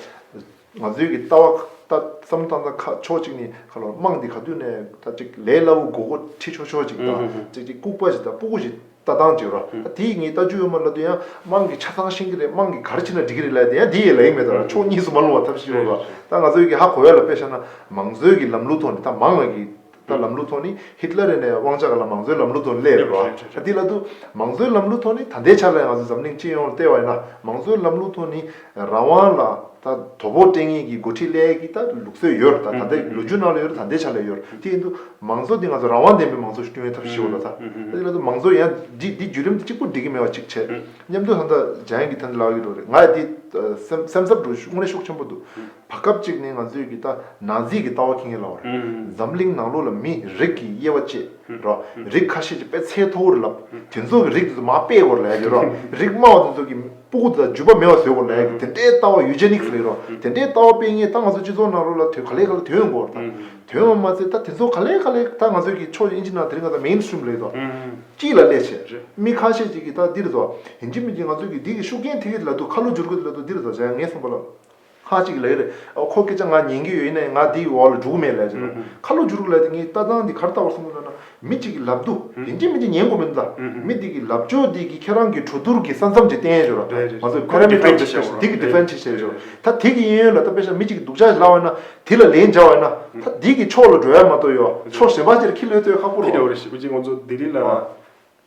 ང་ཚོའི་ཀྱི་ལྟ་བ་ལྟ་བསམ་བློ་བཏང་ན་ཁ་ཕྱོགས་གཅིག་ནི་ཁ་ལོ་དམངས་འདི་ག་དུས་ནས་ད་གཅིག་ལས་སླ་བོ་མགོ་བོ་ཁྲི་ཆོ་ཆོ་ཅིག་དང་ཅིག་ཅིག་ལྐུག་པ་ཞིག་དང་སྤུ་གུ་ཞིག་ལྟ་སྟངས་ཅིག་རོ། ཨ་དེ་ཡི་ངའི་ལྟ་སྤྱོད་འོས་མ་ལ་དུ་ཡང་དམངས་ཀྱི་ཆ་ཚང་ཤེས་ཀྱི་རེད་དམངས་ཀྱི་ག་རེ་བྱེད་ན་འགྲིག་གི་རེད་ལ་དེ་ཡང་དེ་ཡི་ལ་ཡིག་མེད་དང་ཕྱོགས་གཉིས་སུ་མ་ལྷུང་བ་ཐབས་ཤེས་ཡོད་རེད། ད་ང་ཚོའི་ཀྱི་ཧ་གོ་ཡ་ལ་དཔེ་ཤ་ན་མང་གཙོའི་ཀྱི་ལམ་ལུགས་ཐོག་ནས་ད་མང་ང་ཀྱི། ལ་ལམ་ལུགས་ཐོག་ནི་ཧིད་ལ་རེ་ནས་དབང་ཆ་ག་ལ་མང་གཙོའི་ལམ་ལུགས་ཐོག་སླེབས་རེད་བ་འདི་ལ་དུ་མང་གཙོའི་ལམ་ལུགས་ཐོག་ནི་ད་ལྟའི་ཆར་ལ་ཡང་ང་ཚོའི་འཛམ་གླིང་སྤྱི་ཡོངས་ལ་བལྟས་བ་ཡིན་ན་མང་གཙོའི་ལམ་ལུགས་ཐོག་ནི་རང་དབང་ལ་ད་དོ་ཕོག་སྤྲད་ངེས་ཀྱི་འགོ་ཁྲིད་སླད་ཀྱི་ད་ལུགས་སྲོལ་ཡོད་རེད་ད་ད་ལྟའི་ལོ་རྒྱུས་ནང་ལ་ཡོད་རེད་ད་ལྟའི་ཆར་ལ་ཡོད་རེད་དེ་ཡིན་དུ་མང་གཙོ་འདི་ང་ཚོ་རང་དབང་ལྡན་པའི་མང་གཙོ་ཞིག་བསྐྲུན་ཡོད་ཐབས་ཤེས་བོ་ད་ད་འདི་ལ་དུ་མང་གཙོ་ཡང་འདི་འདི་བརྒྱུད་རིམ་དུ་གཅིག་པུ་འགྲིག་གི་མེད་བ་གཅིག་བྱས་སྙམ་དུ་ད་ད་བྱ་ཡིན་གྱི་ད་འདི་ལག་གི་འགྲོ་རེད་ང་ཡི་འདི་སེམས་སེམས་འཚབ་འདུག་དངོས་གནས་ཤུགས་ཆེན་པོ་འདུག་བར་སྐབས་ཅིག་ནས་ང་ཚོས་གི་ད་ནག་རྫིས་ཀྱི་ལྟ་བ་ཁེངས་ཡོད་ལ་བར་འཛམ་གླིང་ནང་ལོགས་ལ་མི་རིགས་ཀྱི་དབྱེ་བ་བཅད་རོགས་རིགས་ཁ་ཤས་ཀྱི་དཔེ་ཚད་མཐོ་བོ་རུ་ལབ་དེ་ཚོ་གི་རིགས་དེ་ཚོ་མ་དཔེ་གོ་ལས་རེད་རོགས་རིགས་དམའ་བ་དེ་ཚོ་གི་སྤུ་གུ་དང་ཇུས་པ་མེད་པ་བཟོས་གོ་ལས་གི་དེ་འདྲའི་ལྟ་བ་ཡུ་ཇེ་ནིག་སི་རེད་རོགས་དེ་འདྲའི་ལྟ་བ་སྤེལ་ངེས་ད་ང་ཚོ་སྤྱི་ཚོགས་ནང་ལོགས་ལ་དོན་ག་ལེ་ག་ལེ་དོན་གོ་ད་དོན་ངོ་མ་ཚེ་ད་དེ་ཚོ་ག་ལེ་ག་ལེ་ད་ང་ཚོས་གི་ཕྱོགས་ཀྱི་ཨིན་ཇི་ནང་དེ་རིང་ག་ད་མེན་སྟྲིམ་རེད་རོགས་སྐྱིད་ལ་ལས་བྱེད་མི་ཁ་ཤས་ཀྱི་གི་ད་འདིར་ཚོ་ཡིན་གྱི་མིན་གྱི་ང་ཚོས་གི་འདི་གི་ཤུགས་རྐྱེན་དེ་གི་ལ་དུ་ཁ་ལོ་བསྒྱུར་དགོས་དེ་ལ་དུ་འདིར་ཚོ་བྱ་ངེས་སོང་པ་ལ། ཁ་གཅིག་ལས་རེད། ཁོ་སྐད་ཆ་ང་ཉན་གི་ཡོད་ནའི་ང་དེའི་འོག་ལ་འགྲོ་གི་མེད་ལས་ཟེར་རོ། ཁ་ལོ་བསྒྱུར་གི་ལས་དེ་ངས་ལྟ་སྟངས་འདི་གར་ལྟ་བར་སོང་ཚོད་ན། མི་གཅིག་གི་ལབ་བསྡུ་དེ་འདྲས་མི་འདྲས་ཉན་དགོས་མིན་ལ། མི་དེ་གི་ལབ་ཕྱོགས་དེ་གི་ཁྱེད་རང་གི་གྲོ་དུར་གི་ས་མཚམས་ཀྱི་བསྟན་བྱོས་ར། མ་ཟད་ཁོ་རང་གི་ལབ་ཕྱོགས་དེ་གི Defend བྱེད་བྱས་བྱོས། ད་དེ་གི་གཡས་གཡོན་ལ་ད་དཔེ་ཆ་མི་གཅིག་གི་སྡུག་ཅག་བཞག་བས་ན་དེ་ལ་ལན་བྱ་བས་ན། ད་དེ་གི་ཕྱོགས་ལ་འགྲོ་ཡ་མ་གཏོགས་ཡོ་ཕྱོགས་གཞན་པ་ཅིར་ཁྱི་ལོས་ལྟོས་ཁག་པོ་རོ། ཁྱི་ལོས་རེད་ཞེ་པོ་གཅིག་ཁོང་ཚོ་ལྡི་ལི་ལ།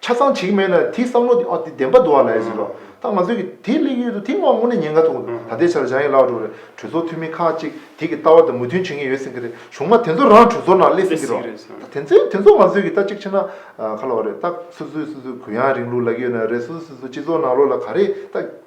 ཆ་ཚང་བྱེད་ཀྱི་མེད་ན་དེའི་བསམ་བློ་དེ་ཨ་དེ་བདེན་པ་འདུག་ཨ་ལས་ཟེར་རོགས་ད་ང་ཚོས་ཀྱི་དེ་གླེང་ཡུལ་དུ་དེ་སྔོན་ནས་ཉེན་ཁ་ཐུག་འདུག་ད་ལྟའི་ཆར་བྱང་ཡིག་ཀླག་འགྲོ་རེད་གྲོས་ཚོགས་འཐུས་མི་ཁག་ཅིག་དེ་གི་ལྟ་བ་དང་མོས་མཐུན་བྱེད་མཁན་ཡོད་སེང་གི་རེད་གཞུང་མ་དེ་ཚོ་རང་གྲོས་ཚོགས་ནང་གླེ་སེང་གི་རོགས་ད་དེ་ཚོས་དེ་ཚོ་ང་ཚོས་ཀྱི་ལྟ་གཅིག་བྱེད་ན་ཁ་ལོ་རེད་ད་སུ་སུས་སུ་སུས་གུ་ཡངས་རིང་ལུགས་ལ་གཡོལ་ན་རེད་སུ་སུས་སུ་སུ་སྤྱི་ཚོགས་ནང་ལོག་ལ་ག་རེད་ད།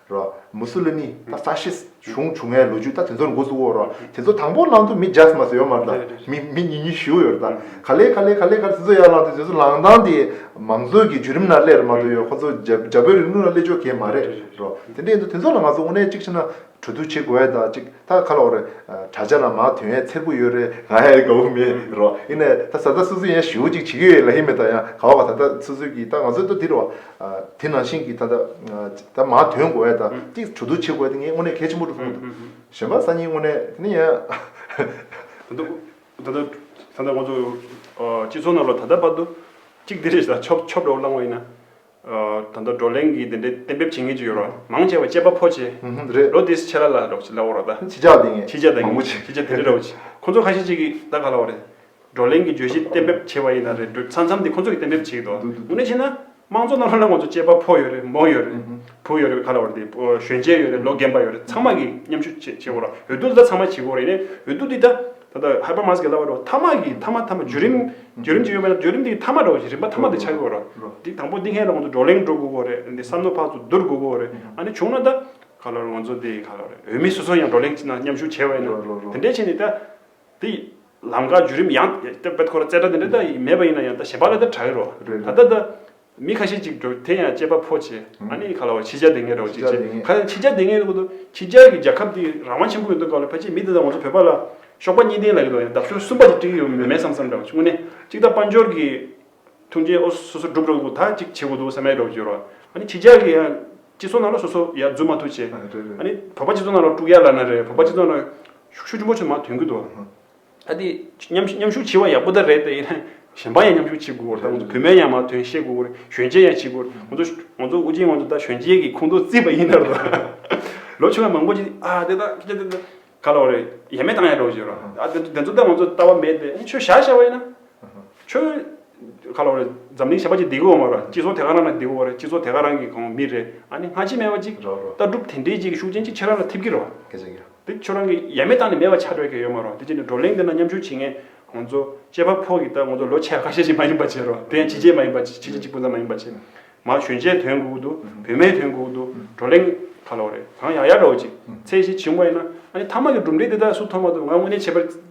རོ། མུ་སུ་ལི་མི། ད་ཧྥ་ཤི་སི་གཞུང་བྱུང་ཡའི་ལོ་རྒྱུས་ད་དེ་ཚོར་མགོ་བཙུགས་འོག་རོ། དེ་ཚོ་དང་པོ་ལང་དུ་མི་ཇཱས་མ་སོ་ཡོད་མ་རེད་ད། མི་མི་ཉིས་ཉིས་བཞི་བོ་ཡོད་རེད་ད། ག་ལེ་ག་ལེ་ག་ལེ་ག་ལེ་དེ་ཚོ་ཡར་ལང་དུས་དེ་ཚོ་ལང་སྟངས་དེ་མང་གཙོའི་གི་བརྒྱུད་རིམ་ན་སླེབས་རེད་མ་གཏོགས་ཡོད་ཁོ་ཚོ་རྒྱ་རྒྱ་བོད་རིང་ལུགས་ན་སླེབས་ཆོག་གི་མ་རེད་རོ། དེ་འདྲས་ཡིན་དུས་དེ་ཚོ་ལ་ང་ཚོ་དངོས་གནས་གཅིག་བྱས་ན་གྲོས་བསྡུར་བྱེད་དགོས་ཡ་ད་གཅིག་ད་ཁ་ལོ་རེ། དྲ་རྒྱ་ན་མ་དོན་ཡའི་ཚེར་བུ་ཡོད་རེད་ང་ཡའི་གའུ་མེད་རོ། ཡིན་ནའི་ད་ད་ད་སོ་སོའི་ཡའི་ཞེའུ་གཅིག་བྱེད་ཀྱི་ཡོད་ལ་ཡིན་མེད་ད་ཡང་གའུ་བ་ད་ད་སོ་སོའི་གི་ད་ང་ཚོའི་ད་དེ་རོ། དེ་ནང་བཞིན་གྱི་ད་ལྟ་ད་མ་དོན་དགོས་ཡ་ད་གཅིག་བྱུ་དུར་ཕྱེ་དགོས་ཡ་དེ་ངས་དངོས་གནས་གལ་ཆེན་པོ་འདུག་གསུངས་འདུག་གཞན་པ་སང་ཉིན་དངོས་གནས་དེ་ནི་ཡང། ད་ལྟ་ད་ལྟ་ད་ལྟ་ཁོང་ཚོ་སྤྱི་ཚོགས་ནང་ལ་ད་ལྟ་བར་དུ་གཅིག་དེ་རེད་ད་ཆོབ་ཆོབ་འདྲ་བོ་བསླངས་བ་ཡིན་ན། ད་ལྟ་བགྲོ་གླེང་གིས་དེ་འདྲའི་གཏན་འབེབས་བྱེད་ངེས་ཅིག་ཡོད་རོགས་མང་ཆེ་བ་དཔྱད་པ་ཕོ་ཆེ། རེད། ལོ་དེའི་ཆད་ལ་ལ་རོགས་ལ་བོ་རོགས་ད། ཕྱི་ལྕགས་དེ་ངས་མང་པོ་བྱས། ཕྱི་ལྕགས་དེ་རེད་རོགས། ཁོང་ཚོ་ཁ་ཤས་ཅིག་གིས་ད་ག་ལ་བ་རེད། བགྲོ་གླེང་གི་བརྗོད་གཞི་གཏན་འབེབས་བྱས་པ་ཡིན་ན་རེད་འདོད། ཚང་ཚང་འདི་ཁོ་ཚོ་གིས་གཏན་འབེབས་བྱས་ཡོད་དོ། དངོས་གནས་བཤད་ན། དམངས་གཙོ་རྣམ་གྲངས་ལ་ང་ཚོ་དཔྱད་པ་ཕོ་ཡོད་རེད་མོ་ཡོད་རེད། བུ་ཡོད་རེད་ག་ལ་བར་དེ། གཞོན་སྐྱེས་ཡོད་རེད་ལོ་རྒན་པ་ཡོད་རེད་ཚང་མ་གིས་མཉམ་ཞུགས་བྱེད་བྱེད་དགོས་ར་འོས་བསྡུ་འདི་དག་ཚང་མ་བྱེད་དགོས་རེད་ནས་འོས་བསྡུ་འདི་དག་ད་ལྟ་ཧཱེ་པར་མཱ་སི་ཀའི་ལྭ་བ་འགྲོ་མཐའ་མ་གིས་མཐའ་མ་མཐའ་མ་བརྒྱུད་རིམ། བརྒྱུད་རིམ་ཅིག་ཡོད་པ་ན་བརྒྱུད་རིམ་དེའི་མཐའ་མ་འགྲོ་རིམ་པ་མཐའ་མ་དེ་ཆགས་དགོས་ར། འདི་དང་པོ་འདི་ཧན་ལ་ང་ཚོ་བགྲོ་གླེང་འགྲོ་དགོས་དགོས་རེད་འདི་བསམ་བློ་ཕག་ཚོ་བསྡུར་དགོས་དགོས་རེད་ཨ་ནི་བྱུང་ན་ད། ག་ལ་རེད་ང་ཚོ་འདི་ག་ལ་རེད་འོས་མི་སོ་སོ་ཡང་བགྲོ་གླེང་ཅིག་ན་མཉམ་ཞུགས་བྱས་པ་ཡིན་ན་དེ་འདྲས་བྱས་ནས་ད། དེ་ཡིས་ལམ་ཁ་བརྒྱུད་རིམ་ཡང་དེ་པད་ཁོ་ར་ཙེ་སྒྲ་དེ་འདྲ་མེད་པ་ཡིན་ན་ཡང་ད་ཞེས་པ་ལ་ད་གྲགས་ཡོད་རོ། ད་ལྟ་ད། མི་ཁ་ཤས་ཅིག་འགྲོ་དེ་ཡང་སྐྱེས་པ་ཕོ་བྱས་ཨ་ནི་ཁ་ལ་བ་ཕྱི་རྒྱ་དེ་ངས་རོགས་ཅིག་བྱས་ཁ་ཡང་ཕྱི་རྒྱ་དེ་ངས་ཁུ་ཕྱི་རྒྱ་གི་རྒྱལ་ཁབ་དེ་རང་དབང་ཆེན་པོ་ཡོད་དོ་ཁ་ལ་ཕ་ཅིག་མི་དེ་དང་ང་ཚོ་བོད་པ་ལ་གཤོག་པ་གཉིས་ལྡན་ལ་ཡོད་དོ་ཡང་ལྡབ་ཤོར་གསུམ་པ་ཅིག་བཀྲིས་ཡོད་མེད་མེད་བསམ་བསམ་འདྲ་བ་དངོས་གནས་གཅིག་ད་དཔའ་འབྱོར་གི་ཐུགས་འགན་ཨོ་སོ་སོ་སྒྲུབ་རོགས་འདུག་ད་ཅིག་བྱེད་དགོས་འདུག་བསམ་ཡས་རོགས་བྱེད་རོགས་ཨ་ནི་ཕྱི་རྒྱ་གི་ཡང་སྤྱི་ཚོགས་ནང་ལ་སོ་སོ་ཡ་རྫུན་མ་ཐུག་བྱས་ཨ་ནི་བོད་པ་སྤྱི་ཚོགས་ནང་ལ་དཀྲུག་ཡ་ལ་ན་རེ་བོད་པ་སྤྱི་ཚོགས་ནང་ཤུགས་ཆུ་ཆུ་མོ་ཆུ་མ་དོན་གུད་དུ་བ། ཨ་དེ་མཉམ་མཉམ་ཤུགས་བྱེད་པ་ཡག་པོ་ད་རེད་ད་ཡིན་ན་གཞན་པ་ཡང་མཉམ་ཤུགས་བྱེད་དགོས་དགོས་རེད་ད་བུད་མེད་ཡང་མ་དོན་ཤེས་དགོས་དགོས་རེད་གཞོན་སྐྱེས་ཡང་བྱེད་དགོས་རེད་ང་ཚོ་ང་ཚོ་དབུ་ཅན་ང་ཚོ་ད་གཞོན་སྐྱེས་ཀྱི་ཁོང་ཁྲོ་རྩིས་པ་ཡིན་ནར་འགྲོ་ལོ་ཆུང་བ་མང་པོ་ཅིག་ཨ་དེ་ད་ཁྱེད་ཀྱི་ད་ག་ལ་བ་རེད་ཡ་མེད་བཏང་ཡ་འགྲོ་བྱེད་རོགས་ཨ་དེ་དེ་ཚོ་ད་ང་ཚོ་ལྟ་བ་མེད་དེ་ཁྱོད་བྱ་བྱ་བ་ཡིན་ན་ཁྱོད་ག་ལ་བ་རེད་འཛམ་གླིང་ཞེས་པ་ཅིག་འདི་གོ་བ་མ་རེད་སྤྱི་ཚོགས་དེ་ག་རང་ན་འདི་གོ་བ་རེད་སྤྱི་ཚོགས་དེ་ག་རང་གི་གོང་མི་རེད་ཨ་ནི་སྔ་ཕྱི་མེད་པ་ཅིག་རོགས་རོགས་ལྟ་གྲུབ་དེ་འདྲའི་ཅིག་ཤུགས་ཅན་ཅིག་ཁྱེད་རང་ལ་ཐེབས་ཀྱི་རོགས། སྐད་ཆ་རྒྱག། འདི་ཁྱོད་རང་གི་ཡ་མེད་བཏང་ནས་མེད་པ་ཆགས་སྤྲོད་ཀྱི་ཡོད་མ་རོགས་དེ་བྱས་ནས་བགྲོ་གླེང་འདི་ན་མཉམ་ཞུགས་བྱེད་མཁན་ང་ཚོ་སྐྱེས་པ་ཕོག་གི་ད་ང་ཚོ་ལོ་ཆེ་ཁ་ཤས་ཤིག་མ་ཡིན་པ་བྱས་རོགས་དེ་ཡང་ཕྱི་རྗེས་མ་ཡིན་པ་ཕྱི་རྗེས་གཅིག་པུ་ཙམ་མ་ཡིན་པ་བྱས་མ་གཞོན་སྐྱེས་དོན་གུག་ཏུ་བུད་མེད་དོན་གུག་ཏུ་བགྲོ་གླེང་ཁ་ལོ་རེ་གང་ཡག་ཡག་རོགས་ཅིག་ཚེ་ཞིག་བྱིང་བ་ཡིན་ན་ཨ་ནི་ཐ་མ་གི་གྲུབ་འབྲས་འདི་དག་སུ་ཐོབ་མ་ཐོབ་ང་དངོས་གནས་བྱས་པ་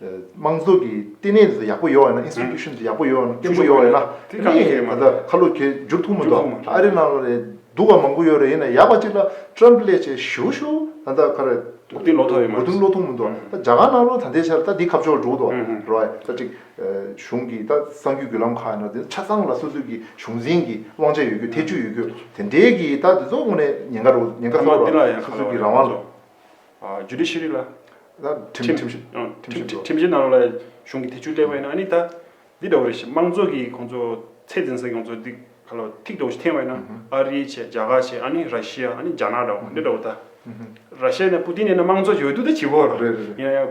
དམངས་གཙོ་གི་ལྟེ་གནས་དེ་ཡག་པོ་ཡོད་ན Institution དེ་ཡག་པོ་ཡོད་ན་བརྟན་པོ་ཡོད་ན་དེ་ནི་ད་ལྟ་ཁ་ལོ་གྱེས་འཇུག་ཐུབ་མོ་འདུག་ཨ་རི་ནང་ལ་སྡུག་བ་མང་པོ་ཡོད་རེད་ཡིན་ན་ཡག་པ་གཅིག་ལ Trump ལས་བྱེད་ཞུ་ཞུ་ད་ལྟ་ཁ་ར་མགོ་རྟིང་སློག་ཐབས་ཡོད་མ་རེད་མགོ་རྟིང་སློག་ཐུབ་མོ་འདུག་ད་རྒྱ་གར་ནང་ལོ་ད་ལྟའི་ཆར་ད་འདི་ཁབ་ཕྱོགས་འགྲོ་འདུག་རོའི་ད་ཅིག་གཞུང་གི་ད་གསང་རྒྱུས་བརྒྱུད་ལམ་ཁག་ཡིན་ན་ཆ་ཚང་ལ་སོ་སོས་ཀྱི་གཞུང་འཛིན་གྱི་དབང་ཆ་ཡོད་རྒྱུ་ཐེ་ཇུས་ཡོད་རྒྱུ་དེ་འདྲའི་གི་ད་དེ་ཚོ་ངོ་ནས་ཉེན་ཁ་རོ་ཉེན་ཁ་ཚོར་བ་སོ་སོ་གྱི་རང་དབང་ལ། Judiciary ལ། ཁྲིམས། ཁྲིམས་བཞིན་གནང་རོགས་ལ་གཞུང་གི་ཐེ་བྱུས་གླེང་བས་ན་ནི་ད། འདི་འདྲ་བོ་རེད་ཞེས་དམངས་གཙོ་གི་ཁོང་ཚོ་ཚད་འཛིན་ས་ཡོངས་རྫོགས་འདི་ག་ལ་ཐིག་འདྲ་བོ་ཞིག་འཐེན་བས་ན་ཨ་རི་བྱས་རྒྱ་གར་བྱས་ཨ་ནི་ར་ཤི་ཡ་ཨ་ནི་རྒྱ་ནག་འདྲ་བོ་འདི་འདྲ་བོ་ད། ར་ཤི་ཡ་ནས་པུ་ཏིན་ཡིན་ན་དམངས་གཙོ་བྱས་ཡོད་དུས་ད་བྱིས་པོ། ཡིན་ན་ཡང།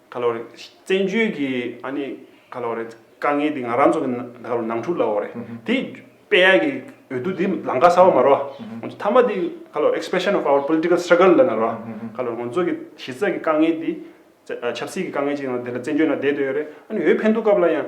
ག་ལོ་རེད། བཙན་བྱོལ་གྱི་ཨ་ནི་ག་ལོ་རེད། དཀའ་ངལ་འདི་ང་རང་ཚོ་ག་ལོ་ནང་འཁྲུག་ལ་འོ་རེད། དེ་པེ་ཡ་གི་འོས་བསྡུ་འདི་ལང་ཀ་ས་བ་མ་རོ། མཐའ་མ་འདི་ག་ལོ expression of our political struggle ལ་ན་རོ། ག་ལོ་ང་ཚོ་གི་གཞི་རྩ་གི་དཀའ་ངལ་འདི། ཆབ་སྲིད་ཀྱི་དཀའ་ངལ་ཅིག་ཡང་འདི་ལ་བཙན་བྱོལ་ན་བསྡད་འདོད་ཡོ་རེད། ཨ་ནི་འོས་འཕེན་འདུག་སྐབས་ལ་ཡང།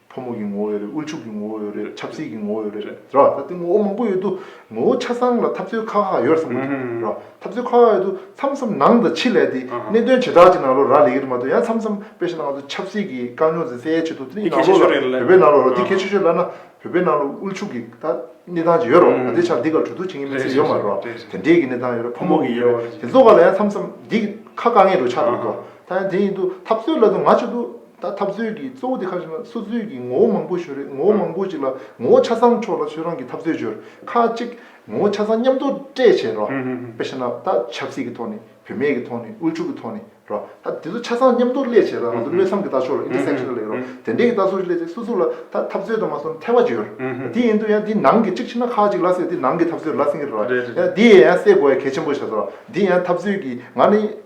ཕོ་མོ་གི་ངོ་བོ་ཡོད་རེད་དབུལ་ཕྱུག་གི་ངོ་བོ་ཡོད་རེད་ཆབ་སྲིད་ཀྱི་ངོ་བོ་ཡོད་རེད་རེད་རེད་ད་དེ་ངོ་བོ་མང་པོ་ཡོད་དུ་ངོ་བོ་ཆ་ཚང་ལ་འཐབ་རྩོད་ཁག་ཁག་ཡོད་བསམ་གྱི་འདུག་རེད་རེད་འཐབ་རྩོད་ཁག་ཁག་ཡོད་དུ་མཚམས་མཚམས་ནང་དུ་ཆེད་ལས་དེ་གནད་དོན་བྱེ་བྲག་ཅིག་ནང་ལོ་རག་ལས་ཀྱི་རེད་མ་གཏོགས་ཡང་མཚམས་མཚམས་དཔེ་བཞིན་ང་ཚོ་ཆབ་སྲིད་ཀྱི་དཀའ་རྙོག་འཛིན་སའི་ཆེད་དུ་དེ་ནང་ལོ་ལ་བོད་པའི་ནང་ལོ་དེ་གལ་ཆེ་ཤོས་ལབ་ན་བོད་པའི་ནང་ལོ་དབུལ་ཕྱུག་གི་ད་གནས་སྟངས་ཅིག་ཡོད་རོགས་ང་དེ་ཆ་འདི་གར་གྲོས་བསྡུར་བྱེད་མཁན་མི་ཚེ་ཡོད་མ་རེད་རོགས་དེ་འདྲའི་གི་གནས་སྟངས་ཡོད་རེད་ཕོ་མོ་གི་ཡོད་རེད་དེ་ཚོ་ག་ལ་ཡང་མཚམས་མཚམས་འདི་ཁ་དཀའ་ངལ་འགྲོ་ཆགས་འདུག་རེད་རོགས་ད་ཡང་དེ་ཡིན་དུ་འཐབ་རྩོད་ལབ་དུ་ང་ཅིག་ཏུ། ད་འཐབ་རྩོད་ཀྱི་གཙོ་བོ་དེ་ཁ་ཆེ་ན་སོ་རྩོད་ཀྱི་ངོ་བོ་མང་པོ་ཞུ་རེད་ངོ་བོ་མང་པོ་ཅིག་ལ་ངོ་བོ་ཆ་ཚང་ཕྱོགས་ལ་ཆོས་རང་གི་འཐབ་རྩོད་བྱོས། ཁ་ཅིག་ངོ་བོ་ཆ་ཚང་མཉམ་དུ་སྤྲད་བྱས་རོ། པེ་ཤེ་ན་ད་ཆབ་སྲིད་ཀྱི་ཐོག་ནས་བུད་མེད་ཀྱི་ཐོག་ནས་དབུལ་ཕྱུག་གི་ཐོག་ནས་རོ། ད་དེ་ཚོ་ཆ་ཚང་མཉམ་དུ་སླེ་བྱས་ལ་ང་ཚོ་བློས་འཚམ་གྱི་ལྟ་ཕྱོགས་ལ Intersectional ལེགས་རོ། དེ་འདྲའི་གྱི་ལྟ་ཕྱོགས་ཀྱི་སླེ་བྱས་སོ་སོ་ལ་ད་འཐབ་རྩོད་དུ་མ་སོང་ཐལ་བ་བྱོས། དེ་ཡིན་དུ་ཡང་དེ་ནང་གི་ཅིག་ཕྱིན་ན་ཁ་ཅིག་ལ་སེ་དེ་ནང་གི་འཐབ་རྩོད་ལ་སེང་གི་རེད། ཡང་དེ་ཡང་སེ་དགོས་ཡ་གལ་ཆེན་པོ་བྱས་སོ། དེ་ཡང་འཐབ་རྩོད་ཀྱི་ང་ནི།